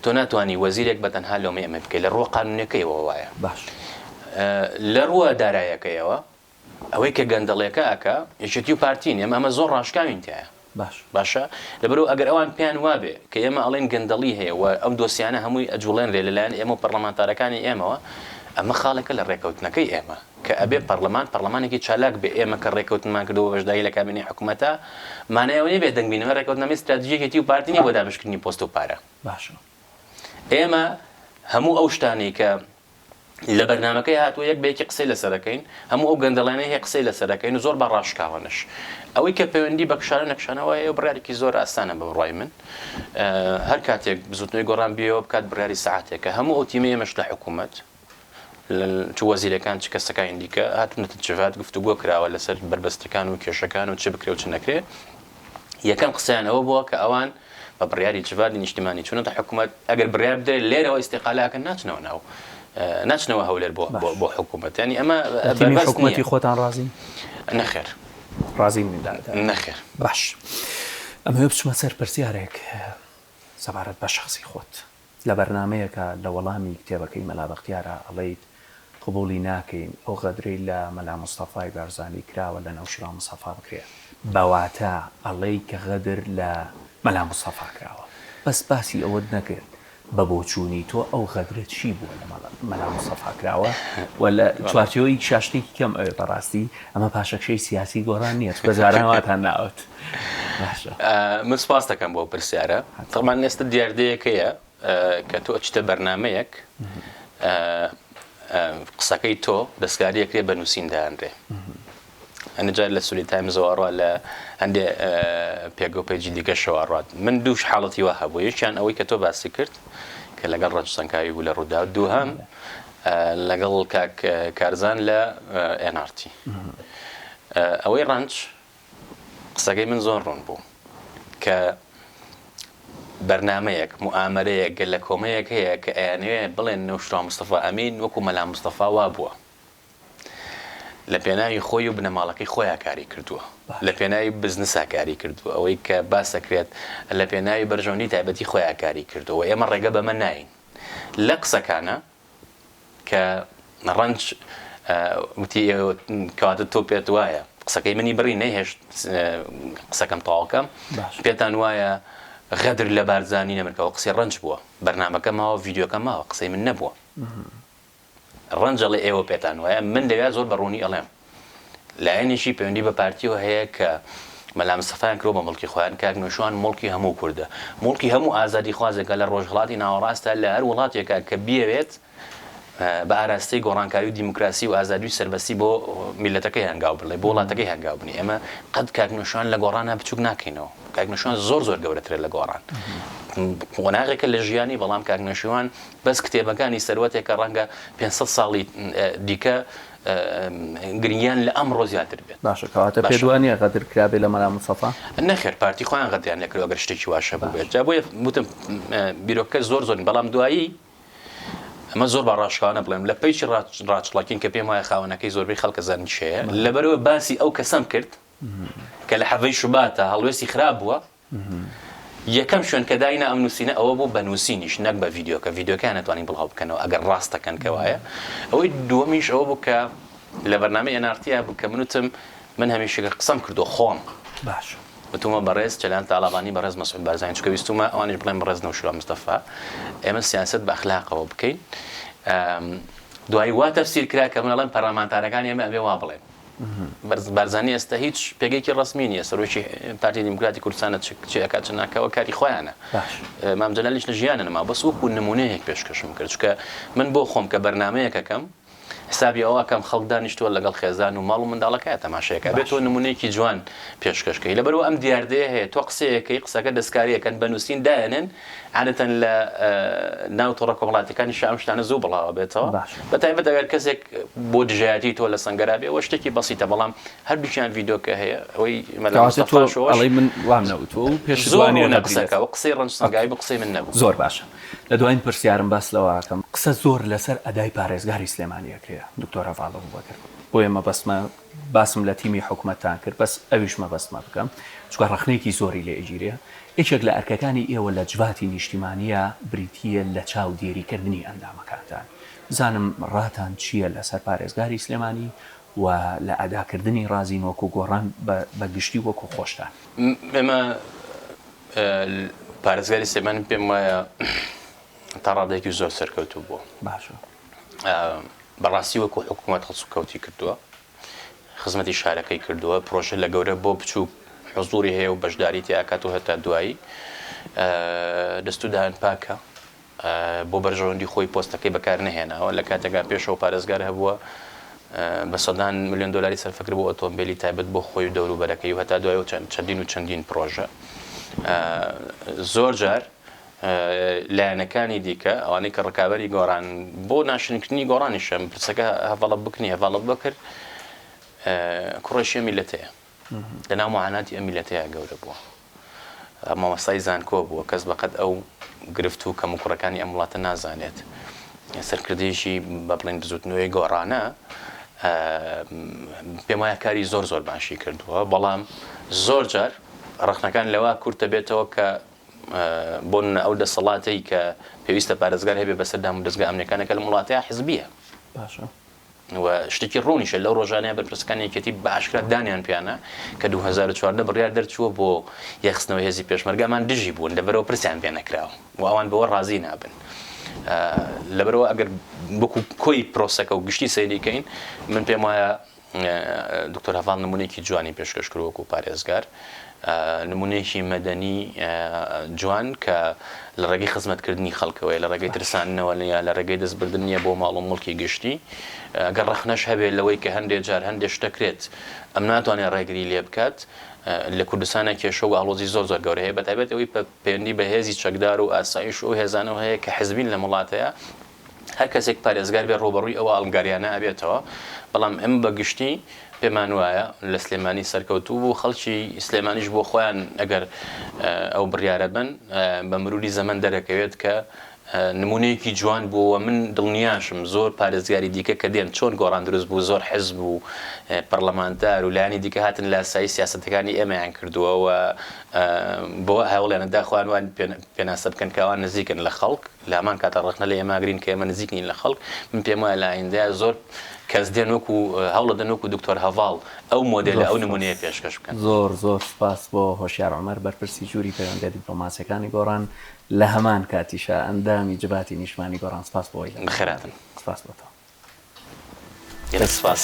تۆ ناتوانانی وەزیرێک بە تەنها لەمە ئەمە بکەیت لە ڕوە قانونەکەیەوە وایە باش لە ڕووە دارایەکەیەوە ئەوەی کە گەندەڵێکە ئەکا یەکێتی و پارتی نی ئەمە ئەمە زۆر ڕاشکاوین تیایا باش باشە لەبەرو ئەگەر ئەوان پێیان وابێ کە ئێمە ئەڵێن گەندەڵی هەیە و ئەم دۆسیانە هەمووی ئەجوڵێنرێ لەلایەن ئێمە و پەڕلەمانتارەکانی ئێمەوە ئەمە خاڵێکە لە ڕێکەوتنەکەی ئێمە کە ئەبێ پەڕلەمان پەڕلەمانێکی چالاک بێ ئێمە کە ڕێکەوتنمان کردوە بەشداری لە کابینەی حکومەتا مانای ئەوە نیە بێدەنگ بین ئەمە ڕێکەوتنامەی ستراتیژی یەکێتی و پارتی نیە بۆ دابەشکردنی پۆست و پارە باشە ئێمە هەموو ئەو شتانەی کە لە بەرنامەکەی هاتووە یەک بە یەکی قسەی لەسەر ئەکەین، هەموو ئەو گەندەڵیانەی هەیە قسەی لەسەر ئەکەین و زۆر با ڕاشکاوانەش. ئەوەی کە پەیوەندی بە کشانەو نەکشانەوە هەیە بڕیارێکی زۆر ئاسانە بە بڕوای من هەر کاتێک بزوتنەوەی گۆڕان بیەوە بکات بڕیاری سەعاتێکە هەموو ئەو تیمەی ئێمەش لە حکوومەت چ وەزیرەکان چ کەسەکانی دیکە هاتونەتە جڤات گفتوگۆ کراوە لەسەر بەربەستەکان و کێشەکان و چ بکرێ و چ نەکرێ یەکەم قسەیان ئەوە بووە کە ئەوان بە بڕیاری جڤاتی نیشتمانی چونەتە حکوومەت ئەگەر بڕیار بدرێت لێرەوە ئیسیقالاکە ناچنەوە ناو ناچنەوە هەولێر بۆ بۆ حکوومەتیانی ئەمە حکوومەتی خۆتان ڕازین نەخێر ڕازین نەخێر باش ئەمە بچمە سەر پرسیارێک سەبارەت بە شخصی خۆت لە بەرنامەیەکا لە وەڵامی کتێبەکەی مەلا بەختیارا ئەڵێیت قبوڵی ناکەین ئەو غەدرەی لە مەلا مستەفای بارزانی کراوە لە نەوشیروان مستەفا بکرێ بەواتا ئەڵێی کە غەدر لە مەلا مستەفا کراوە بەس باسی ئەوەت نەکرد بە بۆچوونی تۆ ئەو غەدرە چی بووە لە مەلا مستەفا کراوە و لە چوارچێوەی کیشا شتێکی کەم ئەوێ بەڕاستی ئەمە پاشەکشەی سیاسی گۆڕان نیە چونکە جاران واتان ناوت. من سپاس دەکەم بۆ پرسیارە تەمان ئێستا دیاردەیەکەیە کە تۆ ئەچتە بەرنمەیەک قسەکەی تۆ دەستکاریەکرێ بە نووسین دانرێ ئەنجار لە سولی تایم زۆڕە لە هەندێ پێگە و پێجی دیکە شەوەڕات من دووش حاڵەتی وە هەبوو یەکیان ئەوەی کە تۆ باسی کرد کە لەگەڵ ڕەنجسەنکاوی بوو لە ڕوودا دووهام لەگەڵ کاک کارزان لە ئەنارتی ئەوەی ڕەنج قسەکەی من زۆر ڕوون بوو کە بەرنامەیەک، موئامەرەیەک، گەلەکۆمەیەک هەیە کە ئەیانەوێ بڵێن نەوشیروان مستەفا ئەمین وەکو مەلا مستەفا وا بووە. لە پێناوی خۆی و بنەماڵەکەی خۆیا کاری کردووە. لە پێناوی بزنسا کاری کردووە. ئەوەی کە باس ئەکرێت لە پێناوی بەرژەوەندی تایبەتی خۆیا کاری کردووە و ئێمە ڕێگە بەمە ناین. لە قسەکانە. کە ڕەنج وتی کەواتە تۆ پێت وایە قسەکەی منی بڕی نەهێشت قسەکەم تەواوکەم پێتان وایە غەدر لە بارزانانی نەمرکەوە قسەی ڕەنج بووە بەرنمەکە ماوە یددیوکە ماوە قسەی من نەبووە ڕەنجەڵی ئێوە پێتان وایە من لەوێ زۆر بە ڕوونی ئەڵێم لایەنێکی پەیوەندی بە پارتیەوە هەیە کە مەلا مستەفایان کرۆ بە مڵکی خۆیان کاک نوێشوان مڵکی هەموو کوردە مڵکی هەموو ئازادی خوازێکە لە ڕۆژهڵاتی ناوەڕاستە لە هەر وڵاتێکە کە بیاوێت بە ئاراستەی گۆڕانکاری و دیموکراسی و ئازادی سربەستی بۆ میلەتەکەی هەنگاو بڵێ بۆ وڵاتەکەی هەنگاو بنی ئێمە قەت کاک نوێشوان لە گۆڕانە بچوک ناکەینەوە کاک نوێشوان زۆر زۆر گەورەترە لە گۆڕان قۆناغێکە لە ژیانی بەڵام کاک نوێشوان بەس کتێبەکانی سەروەتێکە ڕەنگە 500 ساڵی دیکە گرنگیان لە ئەمڕۆ زیاتر بێت باشە کەواتە باشە. پێت وانییە غەدر کرابێ لە مەلا مستەفا؟ نەخێر پارتی خۆیان غەدریان لێ کردوە گەر شتێکی واش هەبووبێت جا بۆیە وتم بیرۆکەکە زۆر زۆرن بەڵام دوایی ئەمە زۆر بە ڕاشکاوانە بڵێم لە پەیچی ڕاچڵەکین کە پێم وایە خاوەنەکەی زۆربەی خەڵکە زانیشەیە لەبەرەوە باسی ئەو کەسەم کرد کە لە حەڤەی شوباتە هەڵوێستی خراپ بووە یەکەم شوێن کە داینا ئەم نوسینە ئەوە بوو بە نوسینیش نەک بە ڤیدیۆکە ڤیدیۆکەیان نەتوانی بڵاو بکەنەوە ئەگەر ڕاستەکەن کە وایە ئەوەی دووەمیش ئەوە بوو کە لە بەرنامەی ئەنارتیا بوو کە من وتم من هەمیشەکە قسەم کردو خۆم باش وتومە بەڕێز چەلان تاڵابانی بەڕێز مەسعود بارزانی چکە ویستومە ئەوانیش بڵێن بەڕێز نەوشیروان مستەفا ئێمە سیاسەت بە ئەخلاقەوە بکەین دوایی وا تەفسیر کرا کە من ئەڵێم پەرلەمانتارەکان ئێمە ئەبێ وا بڵێن بارزانی ئێستا هیچ پێگەیەکی ڕەسمی نییە، سەرۆکی پارتی دیموکراتی کوردستانە چ ئەکات چ ناکا ئەوە کاری خۆیانە. مام جەلالیش لە ژیانە نەماوە بەس وەکوو نموونەیەک پێشکەشم کرد چونکە من بۆ خۆم کە بەرنامەیەک ئەکەم حسابی ئەوە ئەکەم خەڵک دانیشتووە لەگەڵ خێزان و ماڵ و منداڵەکەیان تەماشای ئەکا بێت تۆ نموونەیەکی جوان پێشکەش کەی لەبەرئەوە ئەم دیاردەیە هەیە تۆ قسەیەک کەی قسەکە دەستکارییەکەن بە نووسین دایەنێن عادەتەن لە ناو تۆڕە کۆمەڵاتیەکانیشا ئەم شتانە زوو بڵاوە بێتەوە بە تایبەت ئەگەر کەسێک بۆ دژایەتی تۆ لە سەنگەرا بێ وە شتێکی بەسیتە بەڵام هەردووکیان ڤیدۆکە هەیە ئەوەی مەلاڵی من وام نەوتۆ و پێش زۆرانێ لە قسەکە و قسەی ڕنج سەنگای بە قسەی من نەبوو زۆر باشە لە دوایین پرسیارم باس لەوەکەم قسە زۆر لەسەر ئەدای پارێزگاری سلێمانیەکەیە دکتۆرە ڤاڵە بوو بەکر بۆیە مەبەستمە باسم لە تیمی حکومەتتان کرد بەس ئەویش مەبەستمە بکەم چونکە ڕەخنەیەکی زۆری لێ ئەگیرێ یەکێک لە ئەرکەکانی ئێوە لە جڤاتی نیشتیمانیە بریتیە لە چاودێری کردنی ئەندامەکانتان بزانم ڕاتان چیە لە سەر پارێزگاری سلێمانی و لە ئەدا کردنی ڕازین وەکو گۆڕان بە گشتی وەکو خۆشتان. ئێمە پارێزگاری سلێمانی پێم وایە تا ڕادەیەکی زۆر سەرکەوتوو بووە. بەڕاستی وەکو حکومەت هەڵسوکەوتی کردووە خزمەتی شارەکەی کردووە پرۆژە لە گەورە بۆ بچووک حزوری هەیە و بەشداری تیاکات و هەتا دوایی دەست و دایان پاکە بۆ بەرژەوەندی خۆی پۆستەکەی بەکار نەهێناوە لە کاتێکا پێشەوە پارێزگار هەبووە بە سەدان میلیۆن دلاری سەرفکر بۆ ئۆتۆمبیلی تایبەت بۆ خۆی و دەوروبەرەکەی و هەتا دوای و چەندین و چەندین پرۆژە زۆر جار لایەنەکانی دیکە ئەوانەی کە ڕکابەری گۆڕان بۆ ناشرنکردنی گۆڕانیشە پرسەکە هەڤڵە بکنی هەڤڵە بکرد کوڕێشیە میلەتەیە لەناو معاناتی ئەم میلەتەیە گەورە بووە مامەستای زانکۆ بووە کەس بەقەت ئەو گرفت و کەم و کوڕەکانی ئەم وڵاتە نازانێت سەرکردێکی بە بڵین بزوتنەوەی گۆڕانە پێم وایە کاری زۆر زۆر باشی کردووە بەڵام زۆر جار ڕخنەکان لەوە کورتە بێتەوە کە بۆ نمونە ئەو دەسەڵاتەی کە پێویستە پارێزگار هەبێ بەسەر دام و دەزگا ئەمنیەکانە کە لەم وڵاتەیا حزبیە باشە و شتێکی ڕوونیشە لەو ڕۆژانەیە بەرپرسەکانی یەکێتی بە ئاشکرا دانیان پیانە کە 2014 بڕیار دەرچووە بۆ یەخستنەوە هێزی پێشمەرگەمان دژی بوون لەبەرەوە پرسیان پێ نەکراوە و ئەوان بەوە ڕازی نابن لەبەرەوە ئەگەر بکو کۆی پرۆسەکە و گشتی سەیریکەین من پێم وایە دکتۆر هەڤاڵ نمونەیەکی جوانی پێشکەش کرد وەکو پارێزگار نمونەیەکی مەدەنی جوان کە لە ڕێگەی خزمەتکردنی خەڵکەوەی لە ڕێگەی ترسانەوە لە لە ڕێگەی دەستبردن نیە بۆ ماڵ و مڵکی گشتی گەر ڕخنەش هەبێت لەوەی کە هەندێ جار هەندێ شتەکرێت ئەم ناتوانێت ڕێگری لێ بکات لە کوردستانە کێشە و ئاڵۆزی زۆر زۆر گەورە هەیە بەتابێت ئەوی پەیوەندی بە هێزی چەکدار و ئاسایش و هێزانەوە هەیە کە حزبین لە وڵاتەیە هەر کەسێک پارێزگار بێت ڕووبەڕووی ئەو ئاڵنگاریانە ئەبێتەوە، بەڵام ئێمە بە گشتی پێمان وایە لە سلێمانی سەرکەوتوو بوو، خەڵکی سلێمانیش بۆ خۆیان ئەگەر ئەو بڕیارە بەن بە مروری زەمەن دەرەکەوێت کە نمونەیەکی جوان بوو و من دڵنیاشم زۆر پارێزگاری دیکە کە دێن چۆن گۆڕان دروست بوو زۆر حزب و پەڕلەمانتار و لایەنی دیکە هاتن لاسایی سیاسەتەکانی ئێمەیان کردووە و بۆ هەوڵیانەدا خۆیان وا پێناسە بکەن کە ئەوان نزیکن لە خەڵک. لامان کاتە ڕەخنە لە ئێمە ئەگرین کە ئێمە نزیک نین لە خەڵک من پێم وایە لە ئایندە زۆر کەس دێن وەکو هەوڵ ئەدەن وەکو دکتۆر هەڤاڵ ئەو مۆدێلە ئەو نمونەیە پێشکەش بکەن. زۆر زۆر سوپاس بۆ هۆشیار عومەر بەرپرسی ژووری پەیوەندیە دیپلۆماسیەکانی گۆڕان لە هەمان کاتیشا ئەندامی جڤاتی نیشتمانی گۆڕان سوپاس بۆ ئەوەی لەگەڵمان بوو. بەخێر هاتن. سوپاس بۆ تۆ. گەلەک سوپاس.